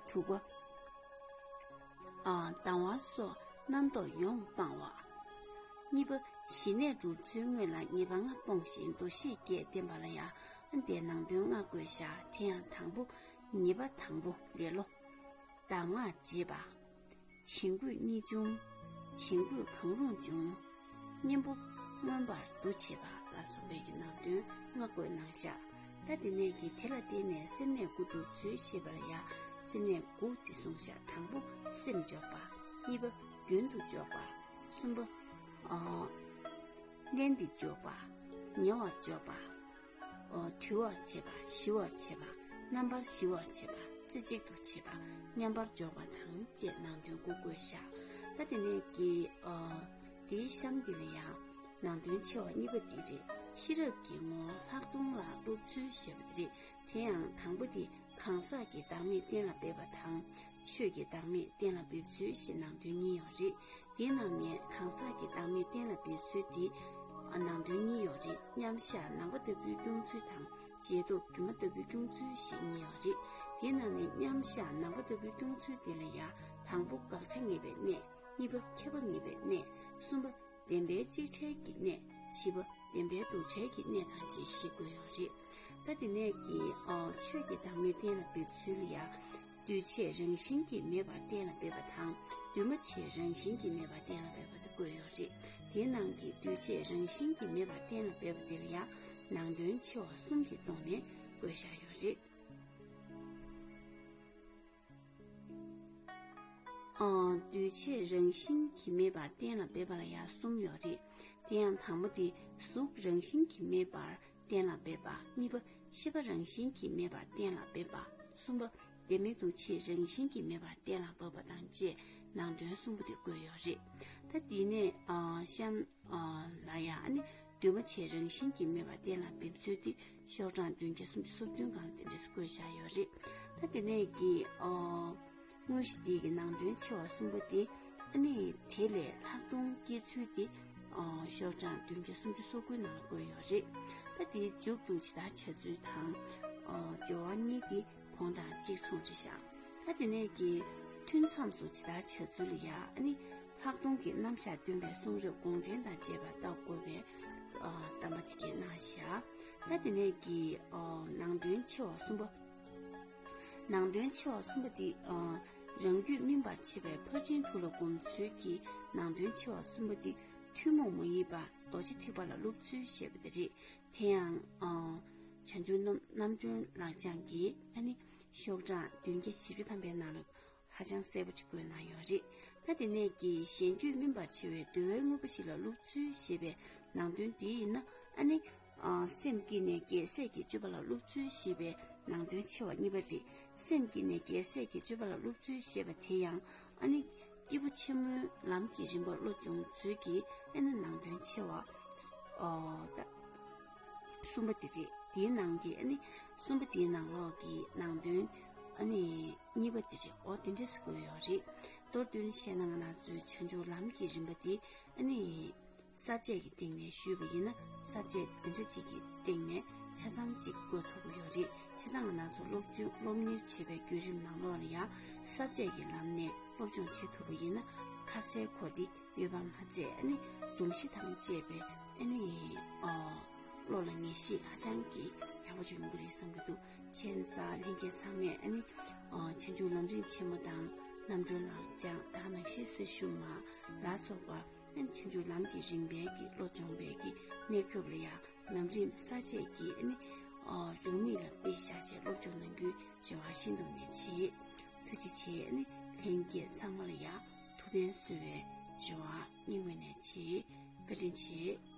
S1: དྲུག་པ། སྡང་བ་སོགས་རྣམ་རྟོག་ཡོངས་སྤང་བ། གཉིས་པ། ཞི་གནས་འགྲོ་ཚུལ་དངོས་ལ་ངེས་པ་ལྔ་སྤོང་ཞིང་འདུ་ཤེས་བརྒྱད་བསྟེན་པ་ལ་ཡང་དེ་ནང་དོན་ལྔ་དགོས་བཞག་དེ་ཡང་དང་པོ། ཉིས་པ་དང་པོ་ལེ་ལོ། གདམས་ངག་འབྱེད་པ། བྱིང་རྒོད་གཉིས་འབྱུང། བྱིང་རྒོད་གང་རུང་འབྱུང། གཉེན་པོ། མངོན་པར་འདུ་བྱེད་པ་ལ་སོགས་པའི་ནང་དོན་སྔགས་རྒོད་ནང་བཞག། ད་ལྟའི་གནད་ཀྱིས་དེ་ལ་བརྟེན་ནས་སེམས་གནད་དགུ་འགྲུབ་ཚུལ་ཤེས་པར་ཡང། སེམས་གནད་དགུ་སྟེ་གསུང་བཤད་དང་པོ་སེམས་འཇོག་པ། གཉིས་པ། རྒྱུན་དུ་འཇོག་པ། གསུམ་པ། བརྟན་ཏེ་འཇོག་པ། ཉེ་བར་འཇོག་པ། དུལ་བར་བྱེད་པ་ཞི་བར་བྱེད་པ་རྣམ་པར་ཞི་བར་བྱེད་པ་རྩེ་གཅིག་ཏུ་བྱེད་པ་མཉམ་པར་འཇོག་པ་དང་བཅས་ནང་དོན་དགུ་བཀོད་བཞག་ད་དེ་ནས་ཀྱི། འདིའི་གཤམ་འདི་ལ་ཡང་ནང་དོན་ཆེ་བ་གཉིས་པ་འདི་རེད་ཤེས་རབ་ཀྱི་ངོ་ལྷག་མཐོང་ལ་སློབ་ཚུལ་ཞེས་པ་འདི་རེད་དེ་ཡང་དང་པོ་འདི་གང་ཟག་གི་བདག་མེད་གཏན་ལ་འབེབས་པ་དང། ཆོས་ཀྱི་བདག་མེད་གཏན་ལ་འབེབས་ཚུལ་ཞེས་ནང་དོན་གཉིས་ཡོད་རེད། དེའི་ནང་ནས་གང་ཟག་གི་བདག་མེད་གཏན་ལ་འབེབས་ཚུལ་དེ་ནང་དོན་གཉིས་ཡོད་རེད་མཉམ་བཞག་ནང་པ་ལྟ་བུའི་སྐྱོང་ཚུལ་དང་རྗེས་ཐོབ་དུ་མ་ལྟ་བུའི་སྐྱོང་ཚུལ་ཞེས་གཉིས་ཡོད་རེད། དེའི་ནང་ནས་མཉམ་བཞག་ནང་པ་ལྟ་བུའི་སྐྱོང་ཚུལ་དེ་ལ་ཡང་དང་པོ་དགག་བྱ་ངེས་པའི་གནས། གཉིས་པ་ཁྱབ་པ་ངེས་པའི་གནས། གསུམ་པ་བདེན་པའི་གཅིག་བྲལ་གྱི་གནད་བཞི་པ་བདེན་པའི་འདུ་བྲལ་གྱི་གནད་དང་བཅས་ཤེས་དགོས་ཡོད་རེད། ད་དེ་ནས་ཀྱི་ཆོས་ཀྱི་བདག་མེད་གཏན་ལ་འབེབས་ཚུལ་ཡང། འདུས་བྱས་རང་བཞིན་གྱིས་མེད་པར་གཏན་ལ་འབེབས་པ་དང་འདུས་མ་བྱས་རང་བཞིན་གྱིས་མེད་པར་གཏན་ལ་འབེབས་པ་དུ་བཀོད་ཡོད་རེད། དེའི་ནང་གི་འདུས་བྱས་རང་བཞིན་གྱིས་མེད་པར་གཏན་ལ་འབེབས་པ་འདིར་ཡང་ནང་དོན་ཆེ་བ་གསུམ་གྱི་སྟོང་ནས་བཀོད་བཞག་ཡོད་རེད། འདུས་བྱས་རང་བཞིན་གྱིས་མེད་པར་གཏན་ལ་འབེབས་པ་ལ་ཡང་གསུམ་ཡོད་རེད། དེ་ཡང་དང་པོ་དེ་གཟུགས་རང་བཞིན་གྱིས་མེད་པར་གཏན་ལ་འབེབས་པ་གཉིས་པ་ཤེས་པ་རང་བཞིན་གྱིས་མེད་པར་གཏན་ལ་འབེབས་པ་གསུམ་པ་བདེན་མེད་འདུ་བྱེད་རང་བཞིན་གྱིས་མེད་པར་གཏན་ལ་འབབ་པ་དང་བཅས་ནང་དོན་གསུམ་པོ་དེ་བཀོད་ཡོད་རེད། ད་འདི་ནས་གཤམ། ལ་ཡང་འདུས་མ་བྱས་རང་བཞིན་གྱིས་མེད་པ་གཏན་ལ་འབེབས་ཚུལ་དེ་ཤོག་གྲངས་བདུན་བརྒྱ་སུམ་ཅུ་སོ་བདུན་གང་དེ་འདྲས་སུ་བཀོད་བཞག་ཡོད་རེད། ད་དེ་ནས་ཀྱི་དངོས་གཞི་འདི་ཡི་ནང་དོན་ཆེ་བ་གསུམ་པོ་དེ་ནི་དེ་ལས་ལྷག་མཐོང་སྐྱེ་ཚུལ་དེ་ཤོག་གྲངས་བདུན་བརྒྱ་སུམ་ཅུ་སོ་དགུའི་ནང་ལ་བཀོད་ཡོད་རེད། ད་དེའི་མཇུག་ཏུ་ཇི་ལྟར་བྱ་ཚུལ་དང། སྦྱོར་བ་གཉིས་དེ་གོང་དང་གཅིག་མཚུངས་རེད་ཤག་ད་དེ་ནས་ཀྱི་ཐུན་མཚམས་སུ་ཇི་ལྟར་བྱ་ཚུལ་ལ་ཡང་ནི། ལྷག་མཐོང་གི་རྣམ་གཞག་སྟོན་པའི་གསུང་རབ་དགོངས་ཆེན་དང་བཅས་པ་བལྟ་དགོས་པའི་གཏམ་པ་དེ་གྱི་རྣམ་གཞག་ད་དེ་ནས་ཀྱི་ནང་དོན་ཆེ་བ་གསུམ་པ། ནང་དོན་ཆེ་བ་གསུམ་པ་འདི་རང་རྒྱུད་སྨིན་པར་བྱེད་པའི་ཕར་ཕྱིན་དྲུག་ལ་སྒོམ་ཚུལ་གྱི་ནང་དོན་ཆེ་བ་གསུམ་པ་འདི་ཐུན་མོང་མ་ཡིན་པ་རྡོ་རྗེ་ཐེག་པ་ལ་སློབ་ཚུལ་བཤད་པ་དེ་རེད། དེ་ཡང་བྱང་ཆུང་རྣམ་གྲོལ་ལག་བཅངས་ཀྱིས་ཨ་ནི་ཤོག་གྲངས་བདུན་བརྒྱ་བཞི་བཅུ་ཐམ་པའི་ནང་ལ། ཧ་ཅང་གསལ་པོ་ཅིག་བཀོད་གནང་ཡོད་རེད་ད། དེ་ནས་ཀྱི་གཞན་རྒྱུད་སྨིན་པར་བྱེད་བའི་འདུལ་བའི་དངོས་པོ་ཞིག་ལ་བླུགས་ཚུལ་ཞེས་པའི་ནང་དོན་འདི་ཡིན་ན་ཨ་ནི། སེམས་སྐྱིད་ནས་རྒྱལ་སྲས་ཀྱི་སྤྱོད་པ་ལ་བླུགས་ཚུལ་ཞེས་པའི་ནང་དོན་ཆེ་བ་གཉིས་པ་རེད། སེམས་སྐྱིད་ནས་རྒྱལ་སྲས་ཀྱི་སྤྱོད་པ་ལ་བླུགས་ཚུལ་ཞེས་པ་དེ་ཡང་ཨ་ནི། སྐྱེས་བུ་ཆེན་མོའི་ལམ་གྱི་རིམ་པ་བློ་སྦྱོང་ཚུལ་གྱི་ཨེ་ན་ནང་དོན་ཆེ་བ། གསུམ་པ་འདི་རེད་དེའི་ནང་གི་ཨ་ནི། གསུམ་པ་དེའི་ནང་ལོགས་ཀྱི་ནང་དོན་ཨ་ནི། གཉིས་པ་དེ་རེད་ཨོ་དེ་འདྲས་སུ་བཀོད་ཡོད་རེད། མདོར་བསྡུས་ན་བཤད་ན་ང་ལང་ཚོའི་བྱང་ཆུབ་ལམ་གྱི་རིམ་པ་འདི་ཨ་ནི། ས་བཅད་ཀྱི་སྟེང་ནས་ཞུས་པ་ཡིན་ན་ས་བཅད་འདི་འདྲ་གཅིག་གི་སྟེང་ནས་ཆ་ཚང་གཅིག་བཀོད་ཐུབ་ཀྱི་ཡོད་རེད་བྱས་ཙང་ང་ལང་ཚོ་སློབ་ཆུང་སློབ་གཉེར་བྱེད་པའི་བརྒྱུད་རིམ་ནང་ལོགས་ལ་ཡང་ས་བཅད་ཀྱི་ལམ་ནས་སློབ་སྦྱོང་བྱེད་ཐུབ་པ་ཡིན་ན་ཁ་གསལ་གོ་བདེ་ཡོད་པ་མ་ཚད་ཨ་ནི་སྒྲོམ་གཞི་དང་བཅས་པའི་ཨ་ནི། བློ་ལ་ངེས་ཤེས་ཧ་ཅང་གི་ཡག་པོ་བྱུང་གི་རེད་བསམ་གྱི་འདུག། ཆེན་རྩ་ལྷན་རྒྱས་ཚང་མས་ནི་ཆེ་མཇུག་ལམ་རིན་ཆེན་མོ་དང་རྣམ་གྲོལ་ལ་སྦྱངས་བདག་རྣམས་ཤེས་གསེར་གཞུང་མ་ལ་སོགས་པ་ནི་ཆེ་མཇུག་ལམ་གྱི་རིམ་པའི་གི་བློ་སྦྱོང་བས་ཀྱི་གནད་སྐྱོབ་ལ་ཡང་ལམ་རིམ་ས་བཅད་ཀྱི་ནི་འབྱུང་མིག་ལ་དཔེ་བཞག་ཅིང་སློབ་སྦྱོང་གནང་རྒྱུའི་རེ་བ་ཤིན་ཏུ་ནས་ཆེ། ཐུགས་རྗེ་ཆེ་ནི་ལྷན་རྒྱས་ཚང་མ་ལ་ཡང་ཐུགས་ཕན་གསོས་བའི་རེ་བ་སྙིང་བས་ནས་ཆེ་བཀའ་དྲིན་ཆེ།